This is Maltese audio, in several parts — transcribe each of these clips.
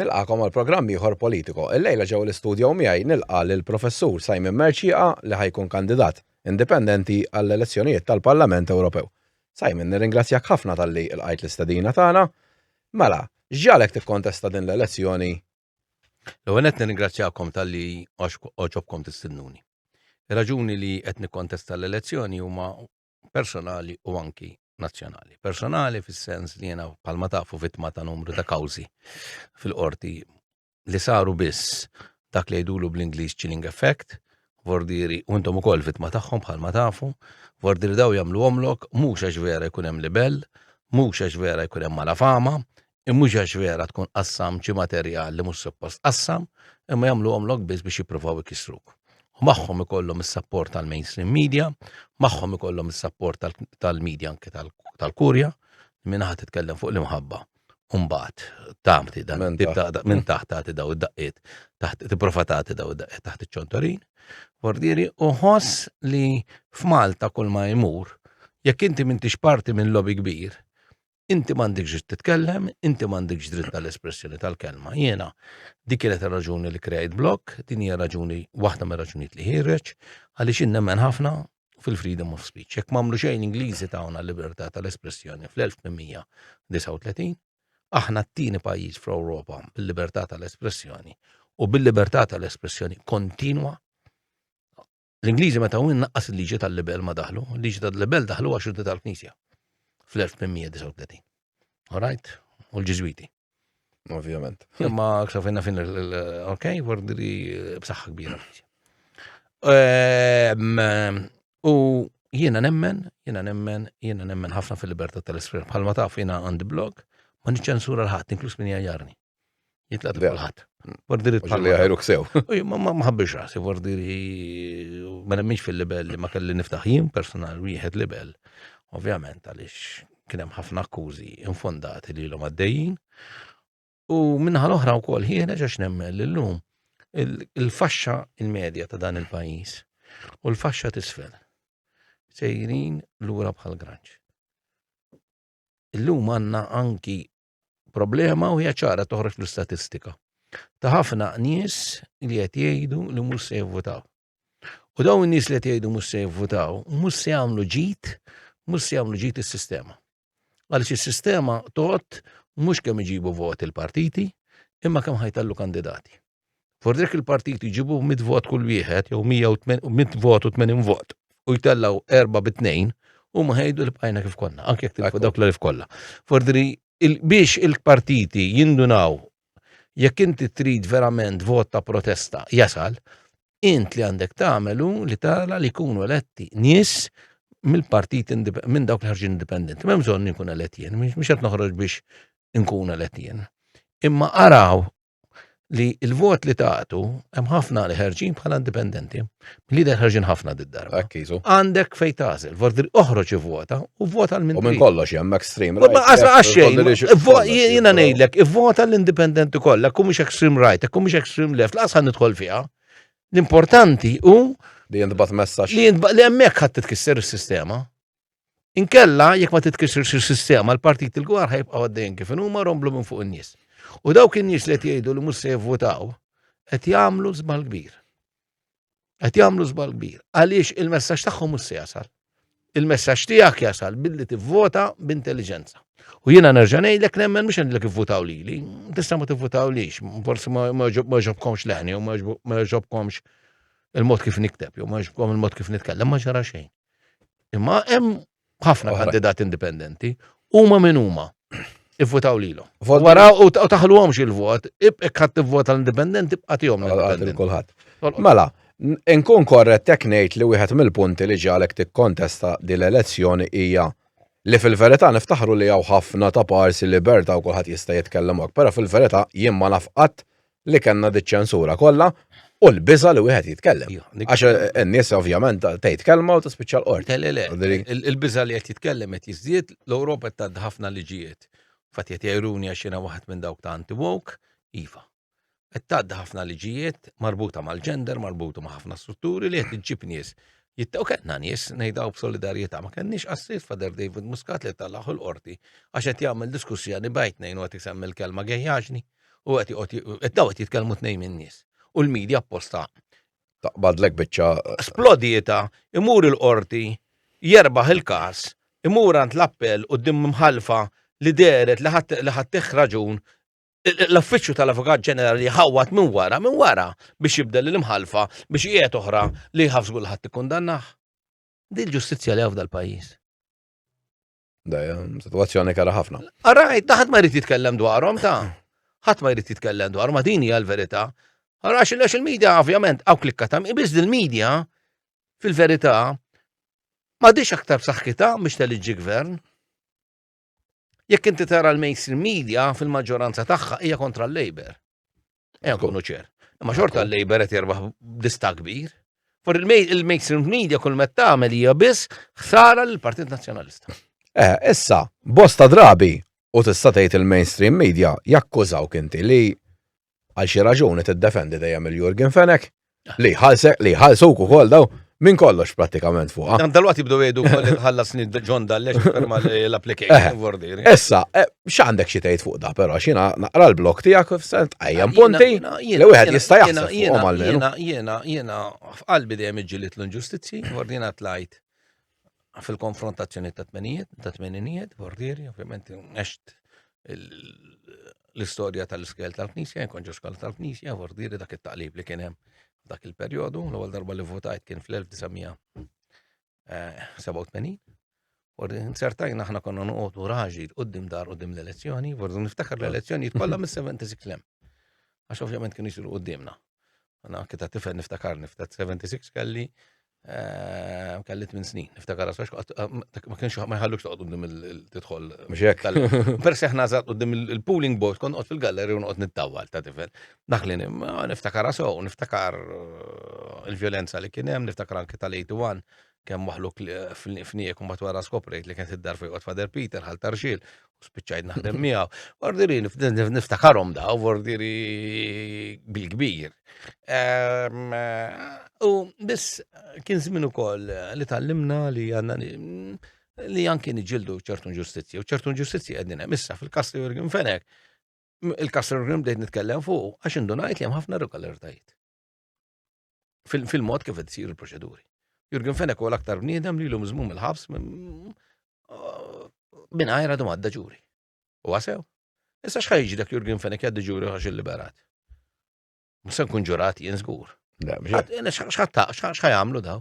Nilqakom għal programm ieħor politiko. Il-lejla ġew l-istudju miegħi nilqa' lil Professur Simon Mercieqa li ħajkun kandidat indipendenti għall-elezzjonijiet tal-Parlament Ewropew. Simon, nirringrazzjak ħafna talli lqajt l-istedina tagħna. Mela, x'ġagħlek tikkontesta din l-elezzjoni? L-ewwel nett nirringrazzjakom talli għax oġobkom tistidnuni. Ir-raġuni li qed nikkontesta l-elezzjoni huma personali u anki nazzjonali. Personali fis-sens li jena palma tafu vittma ta' numru ta' kawzi fil-qorti li saru biss dak li jdulu bl-Ingliż chilling effect, vordiri, u intom ukoll vittma tagħhom bħalma tafu, vordiri daw jagħmlu omlok, mhux għax vera jkun hemm libell, mhux għax vera jkun hemm malafama, mhux għax vera tkun qassamt xi materjal li mhux suppost tqassam, imma jagħmluhomlok biss biex jippruvaw ikissruk. U magħhom ikollhom is-sapport tal-mainstream media, magħhom ikollhom is-sapport tal-media anke tal-kurja, minn ħadd titkellem fuq l-imħabba. Umbagħad tagħti dan minn taħt tagħti daw id-daqqiet, taħt tipprova tagħti daw id-daqqiet taħt iċ-ċontorin, bordieri u ħoss li f'Malta kull ma jmur, jekk inti m'intix parti minn lobby kbir, inti m'għandekx dritt titkellem, inti m'għandekx dritt tal-espressjoni tal-kelma. Jiena dik kienet raġuni li krejt blok, din hija raġuni waħda mir raġunijiet li ħireġ, għaliex innemmen ħafna fil-freedom of speech. Jekk m'għamlu xejn Ingliżi tawna l-libertà tal-espressjoni fl-1839, aħna t-tieni pajjiż fl-Ewropa bil-libertà tal-espressjoni u bil-libertà tal-espressjoni kontinwa L-Ingliżi meta win naqqas il-liġi tal-libel ma daħlu, il-liġi tal-libel daħlu għax xuddi tal-Knisja fl-1839. Alright? U l-Ġiżwiti. Ovvjament. Imma aktar finna fin ok, wardri eh, b'saħħa kbira. Ehm, u jiena nemmen, jiena nemmen, jiena nemmen ħafna fil-libertà tal-iskrim. Bħalma taf jiena għandi blog, ma niċċensura l-ħadd, inkluż min jgħajjarni. Jitlaq ta' kulħadd. Vordiri tħalli. Li ħajruk sew. Ma ħabbix rasi, vordiri ma nemminx fil-libel li ma kelli niftaħ jien personal wieħed libel. Ovvjament għaliex kien hemm ħafna akkużi infondati li l-hom għaddejjin. U minnaħa l-oħra wkoll ħieħna ġax nemmen l-lum il-faxxa il-medja ta' dan il-pajjiż u l-faxxa tisfel sejrin lura bħal granċ. Illum għanna anki problema u hija ċara toħroġ l-istatistika ta' ħafna nies li qed jgħidu li mhux se jivvutaw. U dawn in-nies li qed jgħidu mhux se jivvutaw, mhux se jagħmlu ġid, mhux se jagħmlu ġid is-sistema. Għaliex is-sistema tot mhux kemm iġibu voti l-partiti, imma kemm ħajtallu kandidati. Fuq dik il-partiti jġibu 100 vot kull wieħed jew 100 vot u 80 vot u jtellaw erba' bi tnejn huma ħejdu li bqajna kif konna, anke jekk tilfu dawk l-elf kollha. Fordri biex il-partiti jindunaw jekk inti trid verament vot ta' protesta jasal, int li għandek tagħmel hu li tara li jkunu eletti nies mill-partit minn dawk li ħarġin indipendenti. M'hemm bżonn inkun elett jien, mhux qed noħroġ biex inkun elett jien. Imma araw li il-vot li tagħtu hemm ħafna li ħerġin bħala indipendenti. Li der ħerġin ħafna did-darba. Akkiżu. Għandek fejn tażel, vordri oħroġ ivvota u vota l-min. U minn kollox hemm extreme right. Ma qasra għaxxejn, jiena ngħidlek, ivvota l-indipendenti kollha, kum mhux extreme right, kum mhux extreme left, laqas ħan nidħol fiha. L-importanti hu li jintbat messaġġ. Li hemmhekk ħadd titkisser is-sistema. Inkella, jekk ma titkisirx is-sistema, l-partiti l-gwar ħajbqgħu għaddejjin kif huma romblu minn fuq in-nies. U dawk in-nies li qed jgħidu li mhux se jivvutaw qed jagħmlu żball kbir. Qed jagħmlu żball kbir għaliex il-messaġġ tagħhom mhux se jasal. Il-messaġġ tiegħek jasal billi tivvota b'intelliġenza. U jiena nerġa' ngħidlek nemmen mhux għandlek ivvutaw lili, tista' ma tivvutaw lix, forsi ma ġobkomx leħni u ma ġobkomx il-mod kif nikteb, jew ma ġobkom il-mod kif nitkellem, ma ġara xejn. Imma hemm ħafna kandidat indipendenti, huma minn huma. Ivvutaw lilhom. Wara u taħluhomx il-vot, ibqek ħadd tivvota l-indipendenti bqa' tihom l-indipendenti. Kulħadd. Mela, nkun korret tek ngħid li wieħed mill-punti li ġalek tikkontesta din l-elezzjoni hija li fil-verità niftaħru li hawn ħafna ta' parsi libertà u kulħadd jista' jitkellem hekk, però fil-verità jien ma naf qatt li kellna diċ-ċensura kollha u l-biża li wieħed jitkellem. Għax eh, n-nies ovvjament tgħid kelma u tispiċċa l-qort. Il-biża li qed jitkellem qed jiżdied, l-Ewropa qed tgħaddi ħafna liġijiet. Fatt qed jgħiruni għax jiena waħed minn dawk ta' anti-woke, iva. Qed tgħaddi ħafna liġijiet marbuta mal-ġender, marbuta ma' ħafna strutturi li qed iġġib nies. Jittaw kellna nies ngħidaw b'solidarjetà ma kenniex qassiet fader David Muscat li tal-laħu l-qorti għax qed jagħmel diskussjoni bajt nejn u qed isem il-kelma gejjaġni. U qed joqgħod daw qed jitkellmu tnejn min-nies. U l-media apposta taqbadlek biċċa. Splodieta, imur il-qorti, jerbaħ il-każ, imur għand l-appell u dim mħalfa li deret li ħattih raġun l-affiċċju tal-Avukat Ġenerali ħawwat minn wara minn wara biex jibdel l-imħalfa biex qiegħed oħra li jħafżu l-ħadd ikkundannah. Din ġustizzja li hawn dal-pajjiż. Dajem, situazzjoni kara ħafna. Arrajt, taħt ma jrid jitkellem dwarhom ta' ħadd ma jrid jitkellem dwar ma din hija l-verità. Ara għax il-medja ovvjament hawn klikka ta' ibiż il-medja fil-verità ma dix aktar b'saħħitha biex teliġġi gvern. Jekk inti tara l-mainstream media fil-maġġoranza tagħha hija kontra l-Labor. Ejja nkunu ċer. Imma xorta l-Labor qed jerbaħ dista kbir. For il-mainstream media kull met tagħmel hija biss ħsara l-Partit Nazzjonalista. Eh, issa, bosta drabi u tista' tgħid il-mainstream media jakkużaw kinti li għal xi raġuni tiddefendi dejjem il-Jurgen Fenek Li ħalsek, li ħalsu ukoll daw minn kollox pratikament fuqha. Dan dalwat jibdu jgħidu kolli ħallas nid ġon dallex ferma l-application vordir. Eh. Issa, eh, x'għandek xi tgħid fuq da, però xina naqra l-blok tiegħek f'sent qajjem punti li wieħed jista' jaħseb fuqhom għalmenu. Jiena jiena jiena f'qalbi dejjem iġġielid l-inġustizzji, ordina tlajt fil-konfrontazzjoni ta' tmenijiet, ta' tmeninijiet, bordieri, ovvjament next l-istorja tal-iskel tal-knisja, jkun ġoskal tal-knisja, bordieri dak it-taqlib li kien hemm dak il-perjodu, l-ewwel darba li votajt kien fl-1987. Eh, u insertajna aħna konna noqogħdu raġi qudiem dar qudiem l-elezzjoni, bordu niftakar l-elezzjoni kollha mis-76 lem. Għax ovvjament kien jisiru qudiemna. Għana anke ta' tifel niftakar niftakar 76 kelli eh, kelli minn snin, niftakar għasax, eh, ma kienx ma jħallux toqgħod qudiem il-tidħol. Persi aħna żgħat qudiem il-pooling boat kon qod fil-galleri u noqgħod nittawwal ta' tifel. Daħlin niftakar għasaw, niftakar eh, il-vjolenza li kien hemm, niftakar anke tal-81 kemm maħluq fniek u matwara skoprejt li kien id-dar fejqot Fader Peter ħal tarxil u spiċċajt naħdem miegħu. Ordiri niftakarhom da u ordiri bil-kbir. Ehm, u biss kien żmien ukoll li tallimna li għandna li anki niġildu ċertu ġustizzja u ċertu ġustizzja qegħdin hemm issa fil-Kastri Jurgen Fenek il-Kastri Jurgen bdejt nitkellem fuq għax indunajt li hemm ħafna regolaritajiet. fil-mod kif qed isir il-proċeduri. Jurgen Fenek huwa l-aktar bniedem li l-lum żmum il-ħabs minn għajra dum għadda ġuri. U għasew. Issa xħajġi dak Jurgen Fenek jgħaddi ġuri għax il-liberat. Musa nkun ġurat jien żgur. Xħat għamlu daw?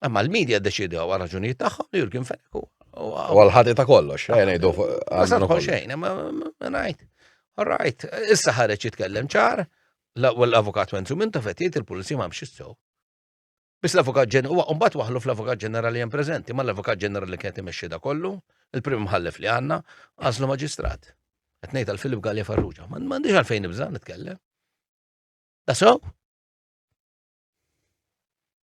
Imma l-medja ddeċidew għal raġunijiet tagħhom li Jurgen Fenech u. Għal ħati ta' kollox, eh, ngħidu għal xejn, ma ngħid. All right, issa ħareġ jitkellem ċar, l-avukat Wenzu minn tafet jgħid il-pulizija ma mxis sew. Biss l-avukat ġenerali, huwa mbagħad waħlu fl-avukat ġenerali hemm preżenti, ma l-avukat ġenerali kien imexxi da kollu, il-prim mħallef li għandna, għażlu maġistrat. Qed ngħid għal Filip Galli Farruġa, ma m'għandix għalfejn nibża' nitkellem. Da sew?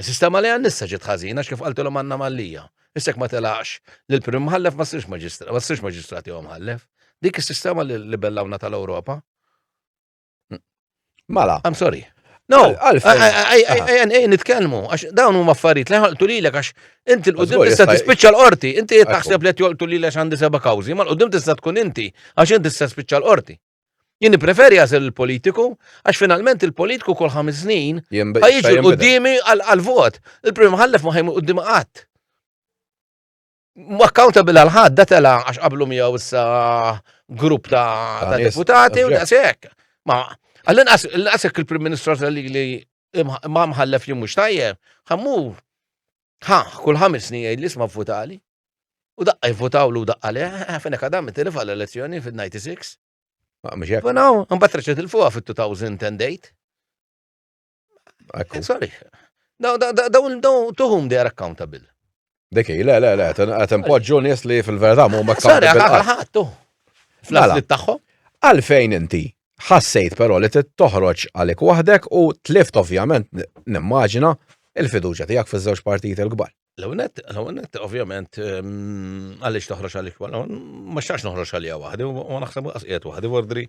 Is-sistema li għan-nissa ġiet ħażin għax kif qaltilhom għandna mallija. Issa jekk ma telaqx lill-Prim Imħallef ma ssirx maġistrat, ma ssirx maġistrat jew mħallef. Dik is-sistema li libellawna tal-Ewropa. Mala. I'm sorry. No, għalfejn. nitkellmu, għax dawn huma affarijiet li ħolqtu lilek għax inti l-qudiem tista' tispiċċa l-qorti, inti qed taħseb li qed jolqtu lilek għandi seba' kawżi, ma l-qudiem tista' tkun inti għax inti tista' tispiċċa l-qorti. Jien nippreferi għażel il-politiku, għax finalment il-politiku kol ħames snin ħajġi l-qoddimi għal-vot. Il-prim ħallef ma ħajmu qoddimi qatt. Accountable għal-ħad, datela għax qablu miegħu issa grupp ta' deputati u da' sekk. Ma, għallin għasek il-prim ministru li ma mħallef li mux tajjeb, ħammur Ħa, kull ħames snin jgħid li sma vvutali. U daqqa jvutaw l daqqa le, fejn hekk għadam tilif għall-elezzjoni fil-96. Ma mhux hekk. Naw, imbagħad reċa tilfuha fit-2008. Ekku. Sorry. Daw daw daw tuhum they are accountable. Deki, le, le, le, għatem poġġu nies li fil-verda mu ma Sorry, għal ħattu. Fl-għal tagħhom. Għalfejn inti ħassejt però li trid toħroġ għalik waħdek u tlift ovvjament nimmaġina il-fiduċja tiegħek fiż-żewġ partijiet il-kbar. L-għonet, l-għonet, ovvjament, ehm, għalix toħroġ għalik, ma xax noħroġ għalija wahdi, u naħseb għas qiegħed wahdi, ordri,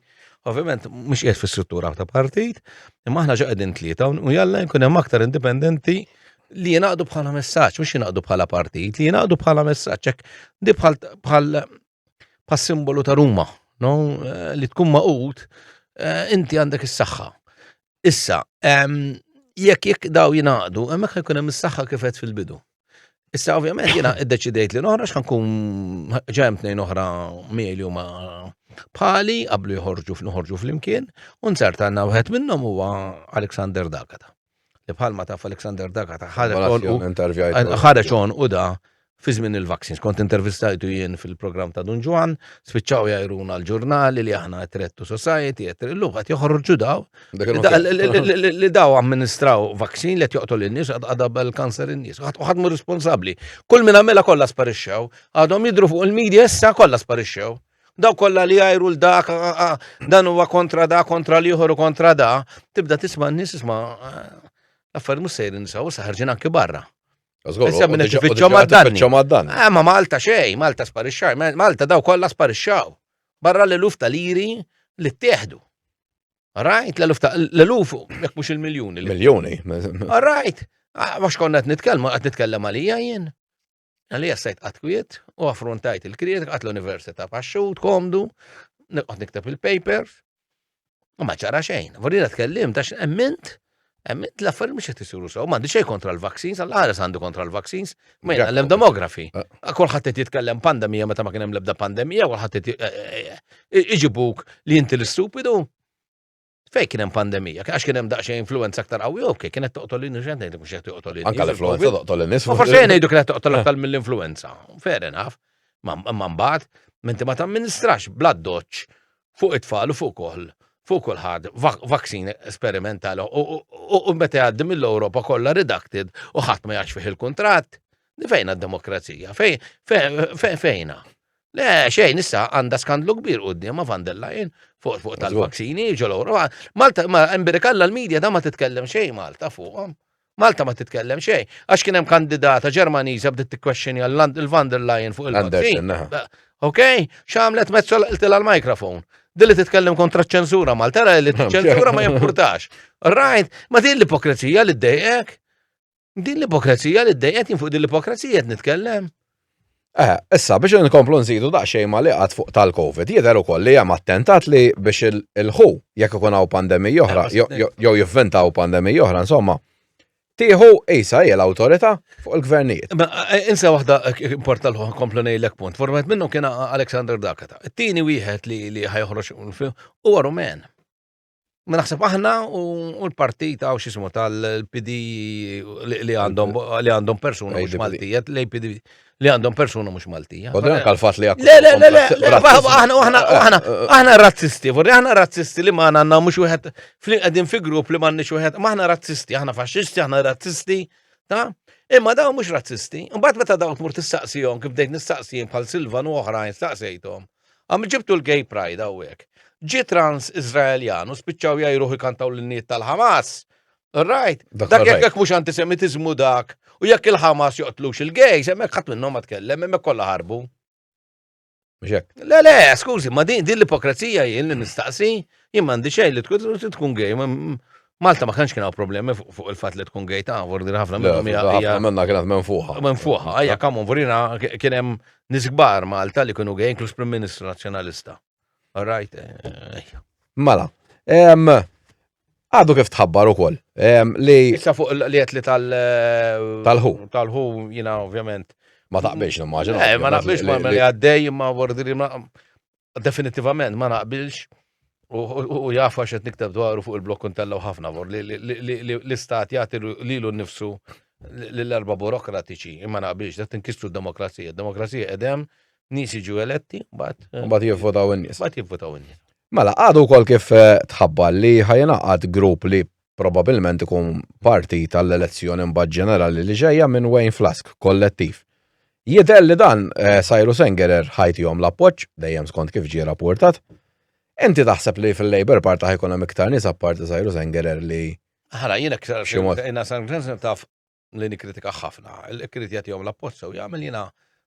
ovvjament, mux qiegħed fis-struttura ta' partit, imma aħna ġaqedin tlieta, u jalla jkun hemm aktar indipendenti li jenaqdu bħala messaġġ, mhux jenaqdu bħala partit, li jenaqdu bħala messaġġ, hekk di bħal pa' simbolu ta' Ruma, no? Eh, li tkun maqut, eh, inti għandek is-saħħa. Issa, jekk jekk daw jinaqdu, hemmhekk ħajkun hemm is-saħħa kifet fil-bidu. Issa ovvjament jiena iddeċidejt li noħra x'ħankun ġemm tnejn oħra mieli huma bħali qablu joħorġu fl-ħorġu fl-imkien, u nsart għandna wieħed minnhom huwa Alexander Dakata. li bħalma taf Alexander Daga ta' ħareġ on u da fi żmien il-vaccines. Kont intervistajtu jien fil-programm ta' Dun Ġwan, spiċċaw jajruna l-ġurnali li aħna għetrettu society, għetri l-lum għat joħorġu daw. Li daw amministraw vaksin li joqtol il-nis, għadab il-kanser il-nis, għadmu responsabli. Kull minna mela kolla sparixxew, għadhom jidru fuq il-medja issa kolla sparixxew. Daw kollha li jgħajru l dak dan huwa kontra da, kontra li u kontra da, tibda tisma' n-nies isma' l-affarijiet mhux sejrin nisaw, issa ħarġin anki barra. Issa minn tifittxhom għad-dan. Eh, ma Malta xejn, Malta sparixxaw, Malta daw kollha sparixxaw. Barra l-eluf tal-iri li ttieħdu. Rajt, l-eluf ta' l-eluf, jek mux il-miljoni. Miljoni. Rajt, għax ah, konna għet nitkellmu, għet nitkellem għalija jien. Għalli jassajt għatkwiet u affrontajt il-kriet għat l-Università paxxut, komdu, għat niktab il-papers, u maċara xejn. Vorrina tkellim, dax emmint, emmint la affarijiet mux jtisuru saw, mandi xej kontra l-vaccines, għal-ħares għandu kontra l-vaccines, ma jgħal l-demografi. Ah. Kolħat t jitkellem pandemija meta ma kienem lebda pandemija, kolħat t eh, eh, eh, iġibuk li jinti l-stupidu. Fej kien hemm pandemija, għax kien hemm daqsxejn influenza aktar qawwi jew kien kienet toqtol lin xejn tgħid mhux qed toqtol lin. Anke l-influenza toqtol lin nies. Forse jien ngħidu kienet toqtol aktar mill-influenza. Fair enough. Ma mbagħad minti ma tamministrax bla doċċ fuq it-tfal u fuq koll fuq kulħadd vaksin esperimental u meta jgħaddi mill-Ewropa kollha redacted u ħadd ma jgħax fih il-kuntratt. Fejna d-demokrazija? Fejna? Le, xejn, issa għandha skandlu kbir quddiem ma' van der Leyen fuq fuq tal-vaksini ġol Ewropa. Malta, ma imbirikalla l-medja da ma titkellem xejn Malta fuqhom. Malta ma titkellem xejn. Għax kien hemm kandidata Ġermaniża bdiet tikkwexxini għal van der Leyen fuq il-vaccin. Ok, x'għamlet mezzo l-qiltilha l-mikrofon. Dilli titkellem kontra ċ-ċensura Malta, li ċ-ċensura ma jimpurtax. Right, ma din l-ipokrezija li d-dejqek. Din l-ipokrezija li d-dejjet fuq din l-ipokrezija qed nitkellem. Eh, issa biex nkomplu nżidu daqsxejn ma li qatt fuq tal-COVID, jidher ukoll li hemm attentat li biex il-ħu jekk ikun hawn pandemija oħra eh, jew jivventaw pandemija oħra, insomma. Tieħu isa hija l-awtorità fuq il-gvernijiet. Eh, insa waħda importa l komplu ngħidlek punt. Format minnhom kien Alexander Dakata. It-tieni wieħed li ħajħroġ huwa Rumen. Ma naħseb aħna u l-partita u xismu tal-PD li għandhom li għandhom persuna mhux Maltija, l-APD li għandhom persuna mhux Maltija. U dan kal-fat li għakku. Le, le, le, le, aħna, aħna, aħna, aħna razzisti, vorri aħna razzisti li maħna għanna mux wieħed għedin fi grupp li maħni wieħed, maħna razzisti, aħna faxxisti, aħna razzisti, ta' imma daw mux razzisti. Mbagħad meta daw tmur tistaqsihom kif dejt nistaqsihom bħal Silvan u oħrajn staqsejthom. Għam ġibtu l-gay pride għawek. Ġi trans Izraeljan u spiċċaw jajruħ ikantaw l-niet tal-Hamas. Right? Dak jek jek mux antisemitizmu dak. U jekk il-Hamas joqtlux il-gay, semmek ħat minnom ma tkellem, emmek kolla ħarbu. Le, le, skużi, ma din l-ipokrazija jien li nistaqsi, jien mandi xej li tkun gay, Malta ma kanx kien hawn problemi fuq il-fatt li tkun gejta, vordi ħafna minnhom hija. Ħafna minnha kienet minn fuqha. Minn fuqha, ejja kamun vorina kien hemm nies kbar Malta li kienu gej inkluż Prim Ministru Nazzjonalista. All right, ejja. Mela, Għadu kif tħabbar u koll. Li. Issa fuq li għet li tal. Eh, tal-ħu. Tal-ħu, jina ovvjament. Ma taqbiex, nimmaġina. Eh, ma naqbiex ma li għaddej, ma vordi li ma. Definitivament ma naqbilx u jafu għax qed nikteb dwaru fuq il-blok kuntellaw ħafna vor li l-istat jagħti lilu nnifsu l-erba burokratiċi imma naqbilx qed tinkistru d-demokrazija. Demokrazija qedem nies jiġu eletti mbagħad mbagħad jivvotaw in-nies. Mbagħad jivvotaw in-nies. Mela, għadu kol kif eh, tħabba li ħajnaqad grupp li probabilment ikun parti tal-elezzjoni mbagħad ġenerali li ġejja minn Wayne Flask, kollettiv. Jidher li dan eh, sajru Sengerer ħajti jom l-appoġġ, dejjem skont kif ġie rapportat. Inti taħseb li fil-Labour Party ħajkun hemm iktar nies apparti sajru Sengerer li Ħara, jiena ktar Xi mod. jiena San Glensen taf li nikritika ħafna, il-krit jagħtihom l-appoġġ sew jagħmel jiena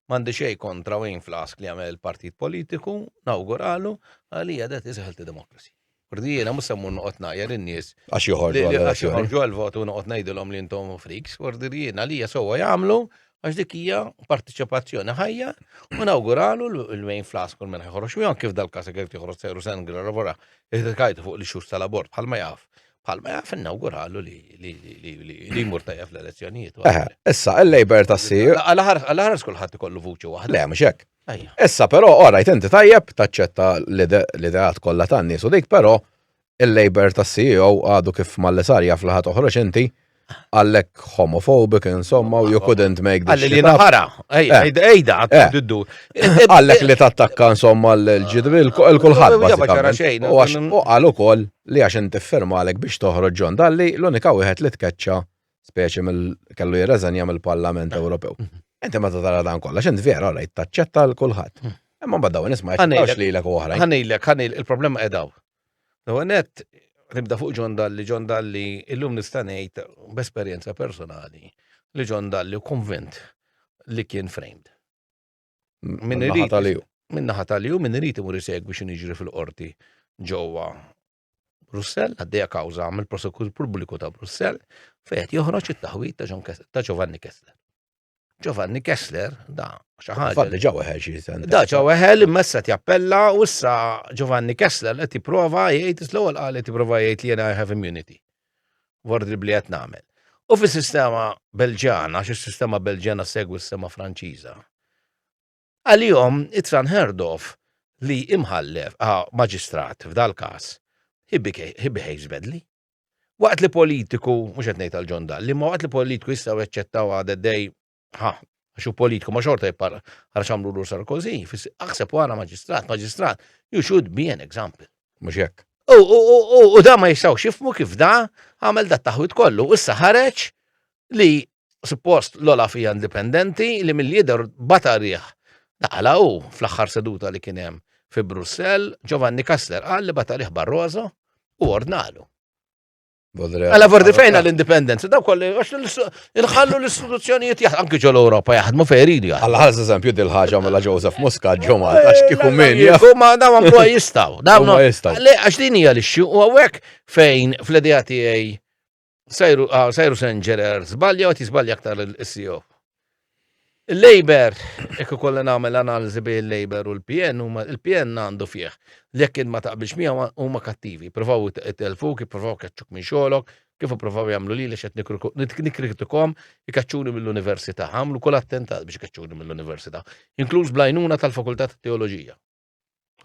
m'għandi xejn kontra Wayne Flask li jagħmel il-partit politiku, nawguralu, għalija det is healthy democracy. Kurdi jiena mhux semmu noqgħod ngħajjar in-nies. Għax joħorġu għal-vot u noqgħod ngħidilhom li intom friks, kurdi jiena għalija sewwa jagħmlu għax dik hija partiċipazzjoni ħajja u nawguralu l-Wayne Flask u minn ħorox u kif dal-każ kif tiħroġ sejru sengri lavora iħdikajtu fuq li xhur tal-abort bħalma jaf Palma jaf innauguralu li li jmur tajja fl-elezzjonijiet. Eh, issa, il-Labor ta' si. Għal-ħar skulħat ikollu vuċi waħda. Le, mux hekk. Issa, pero, ora, jtenti tajjeb, taċċetta l-ideat kollha tan-nies u dik, pero, il-Labor ta' CEO għadu kif mal-lesarja fl-ħat oħroġ inti għallek homophobic, insomma, u you couldn't make this. Għallek li naħara, ejda, eh. ejda, għaddu. Eh. Eh. Għallek li tattakka, insomma, l-ġidri, l-kulħad. U għax u għallu kol li għax inti għalek biex toħroġ ġon dalli, l-unika wieħed li tkeċċa speċi mill-kellu jirreżenja mill-Parlament Ewropew. Mhm. Inti ma tara dan kollha, xint vera, rajt taċċetta l-kulħadd. Mhm. Imma badaw nisma' jgħidx li l-ek oħra. Ħanilek, ħanil, il-problema edaw. L-ewwel nett nibda fuq John Dalli. John Dalli illum nista' ngħid b'esperjenza personali li John Dalli konvint li kien framed. Min irid minn naħa tal min irid imur isegwi xi niġri fil-qorti ġewwa Brussell, għaddejja kawża mill-prosekutur pubbliku ta' Brussell, fejn joħroġ it-taħwid ta' Giovanni Kessler. Giovanni Kessler, da, xaħġa. Fadli ġaw eħel xie sentence. Da, ġaw eħel immessa jappella u issa Giovanni Kessler qed jipprova jgħid l-ewwel qal qed jipprova jgħid li jena I have immunity. Ward li qed nagħmel. U fis-sistema Belġana, xi sistema Belġana segwi s-sistema Franċiża. Għalihom it-tranherdof li imħallef a maġistrat f'dal-każ he behaves badly. Waqt li politiku, mhux qed ngħid għal John Dalli, imma waqt li politiku jistgħu jaċċettaw għad għaddej ħa għax hu politiku ma xorta jipparla għal xamlu lur Sarkozy, aħseb wara maġistrat, maġistrat, you should be an example. Mhux hekk. U da ma jistgħux jifmu kif da għamel dat taħwit kollu, issa ħareġ li suppost l-Olaf hija indipendenti li mill-jidher bata riħ daqala u fl-aħħar seduta li kien hemm fi Brussell, Giovanni Kastler qal li bata riħ Barroso u ordnalu. Għala vordi fejna l-indipendenza, daw kolli, għax nħallu l-istituzzjonijiet jaħdmu, anki ġol Europa jaħdmu fejri li Għalla għaz eżempju dil-ħagġa mela Joseph Muska ġomma, eh, għax kiku minn. Kuma daw għamlu jistaw, daw jistaw. Għax din hija l-ixxu u għawek fejn fl-idea tiegħi Sajru, ah, sajru senġerer, zbalja għat jizbalja aktar il-CEO. Il-Labor, ekku kolla namel analizi bi il-Labor u l-PN, il-PN għandu fieħ. Lekk ma taqbilx miegħu huma kattivi, provaw telfu, kif provaw kaċċuk minn xogħolok, kif provaw jagħmlu li xed nikritikom ikaċċuni mill-università, għamlu kull attentat biex ikaċċuni mill-università, inkluż blajnuna tal-Fakultà ta' Teoloġija.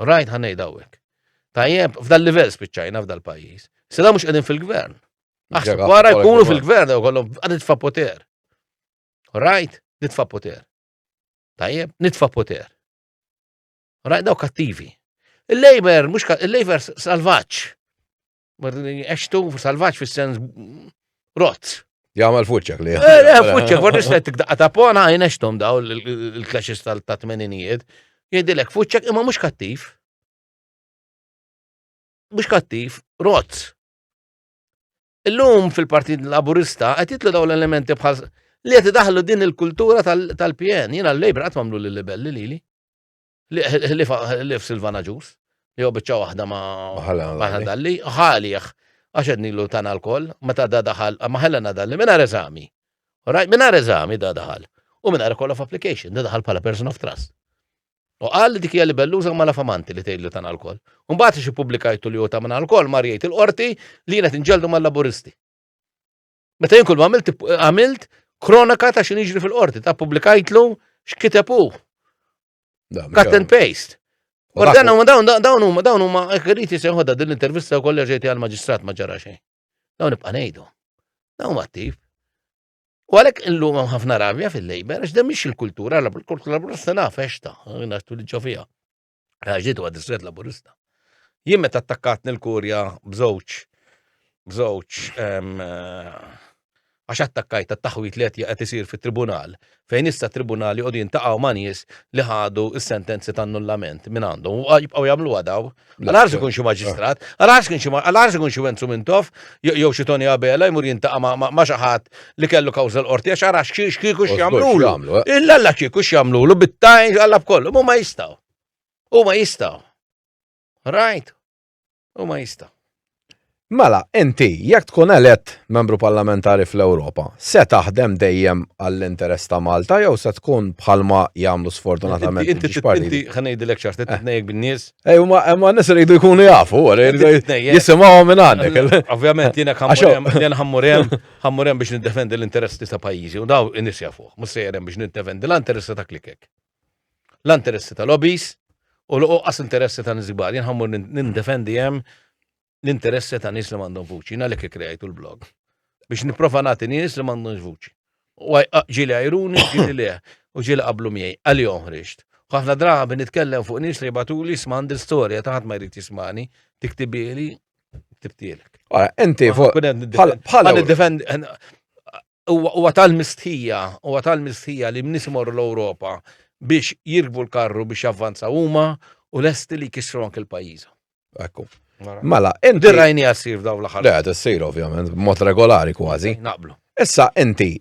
Rajt ħan ngħid hawnhekk. Tajjeb, f'dal livell spiċċajna f'dal pajjiż. Sida mhux qegħdin fil-gvern. Aħseb wara jkunu fil-gvern jew kollhom għad nitfa' poter. Rajt, nitfa' poter. Tajjeb, nitfa' poter. Rajt daw kattivi. Il-Labor, mhux il-Labor salvaġġ. Eċtu salvaġġ fis-sens rot. Jgħamal fuċċek li. Eh, eh, fuċċek, għor nislet daqqa ta' pona, jnextom daw il-klaxis tal-tatmeninijiet. Jgħidilek fuċċek imma mux kattiv. Mux kattiv, rot. Illum fil-Partit Laburista qed jitlu daw l-elementi bħal li qed daħlu din il-kultura tal-PN. Jiena l-Labor qatt mamlu l-libelli lili. Ħlief Silvana Ġus, li huwa biċċa waħda ma' ħadalli, ħalih, għax qed nilu tana l-koll, meta da daħal, ma ħellena dalli mingħajr eżami. Rajt mingħajr eżami da daħal. U mingħajr call of application, da daħal bħala person of trust. U qal li dik hija libelluża ma lafamanti li tgħidlu tana l-koll. U mbagħad xi publikajtu li huwa ta' minn l-koll mar jgħid il-qorti li jiena tinġeldu mal-laburisti. Meta jien kull ma għamilt għamilt kronaka ta' xin jiġri fil-qorti, ta' publikajtlu x'kiteb hu. Cut and paste. U dan huma dawn dawn huma dawn huma qriti se ħodha din l-intervista u kollha ġejti għall-maġistrat ma ġara xejn. Dawn nibqa' ngħidu. Dawn huma attiv. U għalhekk illum hemm ħafna rabja fil-lejber għax dan mhix il-kultura, l-kultura se nafex ta' nastu li ġo fiha. Għaxġiet huwa distret laburista. Jien meta attakkatni l-kurja bżewġ bżewġ ehm, eh, għax attakkajt għat-taħwit li qed isir fit-tribunal fejn issa tribunali għodu jintaqgħu ma' nies li ħadu s-sentenzi ta' annullament minn għandhom u jibqgħu jagħmlu għadaw. Għal-għarż ikun xi maġistrat, għal-għarż ikun xi għal-għarż ikun xi Wenzu Mintoff jew xi Tony Abela jmur jintaqa' ma' xi ħadd li kellu kawża l-qorti għax ara x'kieku x'jagħmlulu. Eh. Illalla kieku x'jagħmlulu bit-tajn għalla b'kollu, huma jistgħu. Huma jistgħu. Right? Huma jistgħu. Mela, inti, jekk tkun elett membru parlamentari fl-Ewropa, se taħdem dejjem għall-interess ta' Malta jew se tkun bħalma jagħmlu sfortunatament. Inti inti ħanejdilek ċart, inti eh. tnejjek bin-nies. Ej, ma n-nies iridu jkunu jafu, jisimgħu minn għandek. Ovvjament, jiena ħammur hemm. Ħa mmur hemm biex niddefendi l-interessi ta' pajjiżi u daw in-nies jafuh. Mhux sejjer hemm biex niddefendi la interessi ta' klikek, la interessi ta' lobbies u l-oqqas interessi ta' nies kbar. Jien ħa mmur nindefendi hemm l-interessi ta' nies li m'għandhom vuċi. Jien għalhekk ikkrejajtu l-blog. Biex nipprova nagħti nies li m'għandhomx vuċi. U ġieli għajruni, ġieli le, u ġieli qablu miegħi. Għalihom ħriġt. U ħafna drabi nitkellem fuq nies li jibgħatuli jisma' għandi l-istorja ta' ħadd ma jrid jismagħni, tiktibhieli Ktibtielek. Ah, inti fuq. Bħala defend huwa tal-mistħija, huwa tal-mistħija li mnis imorru l-Ewropa biex jirkbu l-karru biex javvanza huma u lesti li kisru anke l-pajjiża. Ekku. Mela, inti rajni għasir daw l-aħħar. Le, tissir ovvjament, mod regolari kważi. Naqblu. Issa inti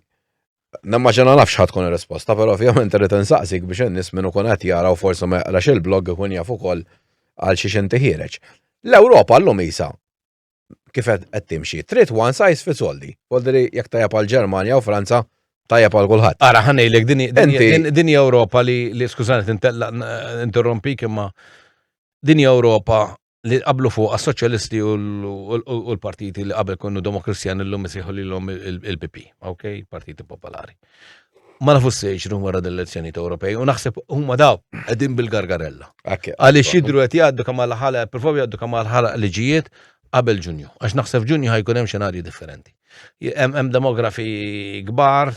Nammaġa naf xħat tkun risposta, pero ovvjament irrid insaqsik biex in-nies minn ikun qed jaraw forsi ma jaqrax il-blog ikun jaf ukoll għal xiex inti ħiereġ. L-Ewropa llum isa kif qed timxi, trid one size fits all di. Voldri jekk tajjeb għal Ġermanja u Franza tajjeb għal kulħadd. Ara ħanejlek din Ewropa li skużani tinterrompik imma din Ewropa li qablu fuq għas-soċjalisti u l-partiti li qabel konnu demokristjan illum isiħu li l-om il-PP, ok, partiti popolari. Ma nafu s-sejġ rum wara dell-elezzjoni ta' Ewropej, u naħseb huma daw qegħdin bil-gargarella. Għaliex jidru qed jgħaddu kemm għal ħala, provaw jgħaddu kemm għal ħala liġijiet qabel Ġunju, għax naħseb Ġunju ħajkun hemm xenarji differenti. Hemm demografi kbar,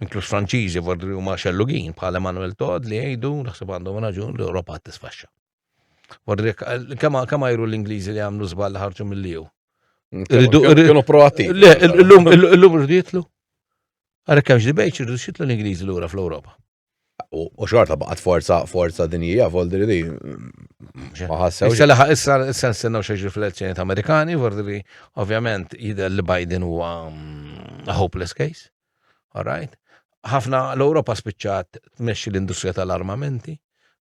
inkluż Franċiżi, vordri huma xellugin bħal Emmanuel Todd li jgħidu naħseb għandhom raġun l-Ewropa tisfaxxa. Warrek, kemm kemm għajru l-Ingliżi li għamlu żball li ħarġu mill-liju. Rridu- Kienu kienu proatti. Le, illum illum rridu jitlu. Għalhekk hemmx debejt irridu xitlu l-Ingliżi lura fl-Ewropa. U u xorta baqgħet forza forza dinjija voldri li ma ħassewx. Issa laħaq issa issa nistennew xi jiġri fl-elezzjonijiet Amerikani, vordi li ovvjament jidher li Biden huwa mm, a hopeless case. All right? Ħafna l-Ewropa spiċċat tmexxi l-industrija tal-armamenti,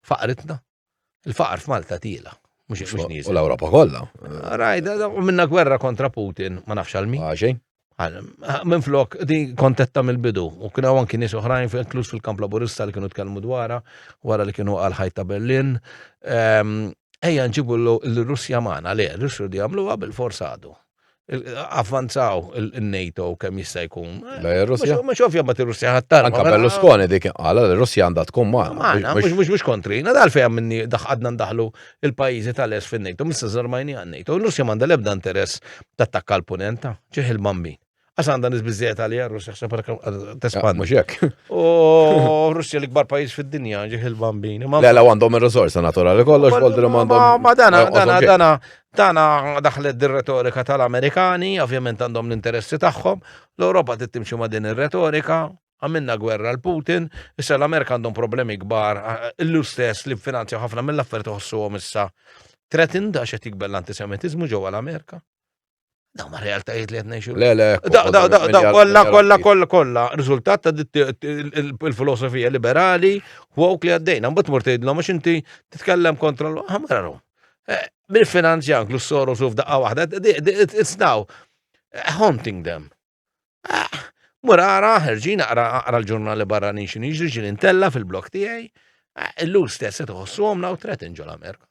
faqritna. Il-faqar f'Malta tiela. U l-Ewropa kollha. Rajt, u minna gwerra kontra Putin, ma nafx għal min. Għaxin. Minn flok, di kontetta mill-bidu, u kien għan kien nies oħrajn fil-klus fil-kamp laburista li kienu tkellmu dwara, wara li kienu għal ħajta Berlin. Ehm, ejja nġibu l-Russja maħna, le, l-Russja di għamlu għabil forsa għadu. avvanzaw il-NATO kemm jista' jkun. Russja. Mhux ovvja ma tir-Russja ħattar. Anka Berlusconi dik qala li Russja għandha tkun magħna. Mhux mhux mhux kontri. Nadal fejn minni daħqadna ndaħlu il-pajjiżi tal-es fin-NATO, mista żarmajni għan-NATO. Russja m'għandha l-ebda interess tattakka l-punenta, ġieħ il-bambin. Għax għandha nis biżżejjed għalija Russja ħseb tespand. Mhux hekk. U Russja l-ikbar pajjiż fid-dinja ġih il-bambin. Le la għandhom ir-riżorsa naturali kollox bol li għandhom. Ma dana dana dana dana daħlet dir-retorika tal-Amerikani, ovvjament għandhom l-interessi tagħhom. L-Ewropa tittimxi ma' din ir-retorika, għamilna gwerra l-Putin, issa l-Amerika għandhom problemi kbar, illu stess li finanzja ħafna mill-affarijiet għom issa. Tretin da xe tikbel l-antisemitizmu ġewwa l-Amerika. Daw ma realtajiet li qed ngħixu. Le, le. Da, da, da, da, kollha, kollha, kollha, kollha. Riżultat ta' il-filosofija liberali u għawk li għaddejna. Mbagħad mur tgħidlhom għax inti titkellem kontra l-ħamraru. Eh, Mil finanzja anke s-soru suf daqqa waħda, it's now eh, haunting them. Eh, mur ara, ħerġina ara l-ġurnali barranin xin iġri xin intella fil-blok tiegħi, illum stess se tħossu għomna u tret inġol Amerika.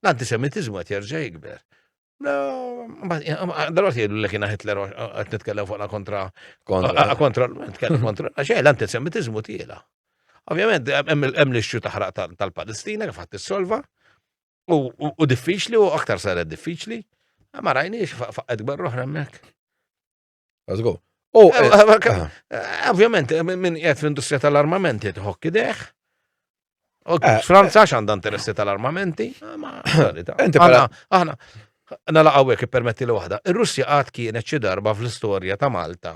L-antisemitiżmu qed jerġa' jikber. Dalwaqt jgħidu li kien Hitler qed nitkellem fuqna kontra kontra nitkellem kontra għax l-antisemitiżmu tiela. Ovvjament hemm l-ixxu taħraq tal-Palestina kif ħadd issolva u diffiċli u aktar saret diffiċli. Ma rajniex faqqa kbar oħra hemmhekk. Let's go. U, eh, eh, eh, ovvjament, minn jgħet fl-industrija tal-armamenti tħokki deħ. Franza xanda interessi tal-armamenti. Aħna, aħna laqawek permetti li waħda. Il-Russja għad kienet xi darba fl-istorja ta' Malta.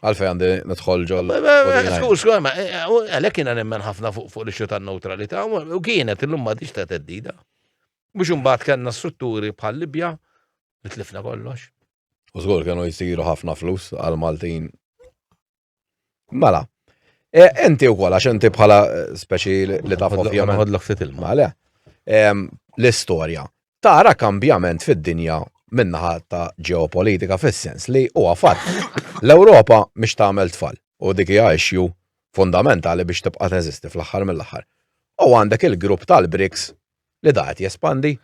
Għalfej għandi nidħol ġol. Skur, skur, ma eh, eh, għalek jina nemmen ħafna fuq li xuta neutralita, u kienet illum ma diċ ta' teddida. Mux unbat kanna strutturi bħal Libja, li tlifna kollox. U skur kienu jisiru ħafna flus għal Maltin. Mela, enti u kol, għax enti bħala eh, speċi li ta' fofja. Għodlok fit il-mala. L-istoria. tara kambjament fid-dinja min-naħa ta' ġeopolitika fis-sens li huwa fatt l-Ewropa mhix tagħmel tfal u dik hija issue fundamentali biex tibqa' teżisti fl-aħħar mill-aħħar. U għandek il-grupp tal-BRICS li da qed jespandi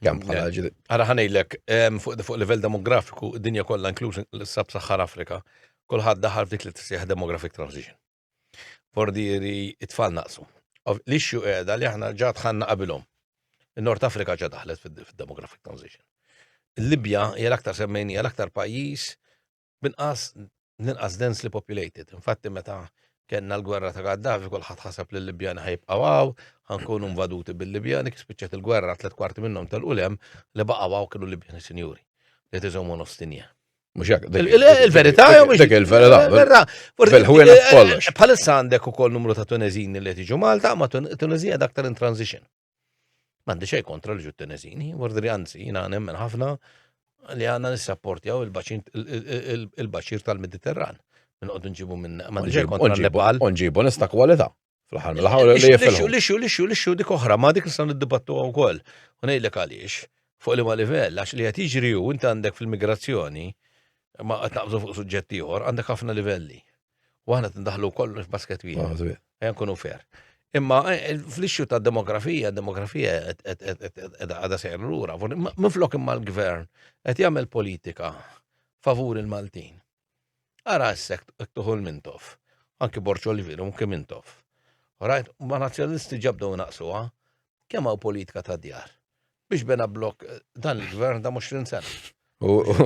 kemm bħala ġid. Ara ħanejlek fuq livell demografiku d-dinja kollha inkluż l-Sab-Saħħar Afrika kulħadd daħal f'dik li tissejjaħ demographic transition. Bordieri it-tfal naqsu. L-issue qiegħda li aħna ġa dħalna qabilhom. In-Nord Afrika ġa daħlet fid-demographic transition. Il-Libja hija l-aktar semmejni hija l-aktar pajjiż binqas l-inqas densely populated. Infatti meta kellna l-gwerra ta' Gaddafi kulħadd ħaseb li l-Libjani ħajbqgħu hawn, ħankunu invaduti bil-Libjani kif spiċċet il-gwerra tliet kwarti minnhom tal-qulem li baqgħu hawn kienu Libjani sinjuri li tiżhom nostinja. Mux jek. Il-verita jew mux. Dik il-verita. Fil-ħwina f'kollox. Bħalissa għandek ukoll numru ta' Tunezini li tiġu Malta, ma Tunezija dak tal transition. Mandi xej kontra li ġu Tunezini, wardri għanzi, jina nemmen ħafna li għanna nisrapportjaw il-baċir tal-Mediterran. Minn għoddu nġibu minn. Mandi xej kontra Nepal. Nġibu nista kwalita. Fl-aħħar mill-aħħar li jifilħu. Lixu, lixu, lixu dik oħra, ma dik nistgħu niddibattu wkoll. U ngħidlek għaliex, fuq li ma livell, għax li qed jiġri hu inti għandek fil-migrazzjoni, ma qed naqbżu fuq suġġetti ieħor, għandek ħafna livelli. U aħna tindaħlu kollu f'basket wieħed. Ejja nkunu fair. Imma eh, eh, fl-ixxu ta' demografija, demografija għada sejr l-ura, minflok imma l-gvern qed jagħmel politika favur il-Maltin. Ara issa hekk tuħu l-Mintoff. Anki Borċo li vieru mkien Mintoff. Rajt, ma nazzjonalisti ġa bdew naqsuha. Kemm hawn politika ta' djar. Biex bena blok dan il-gvern da' 20 sena.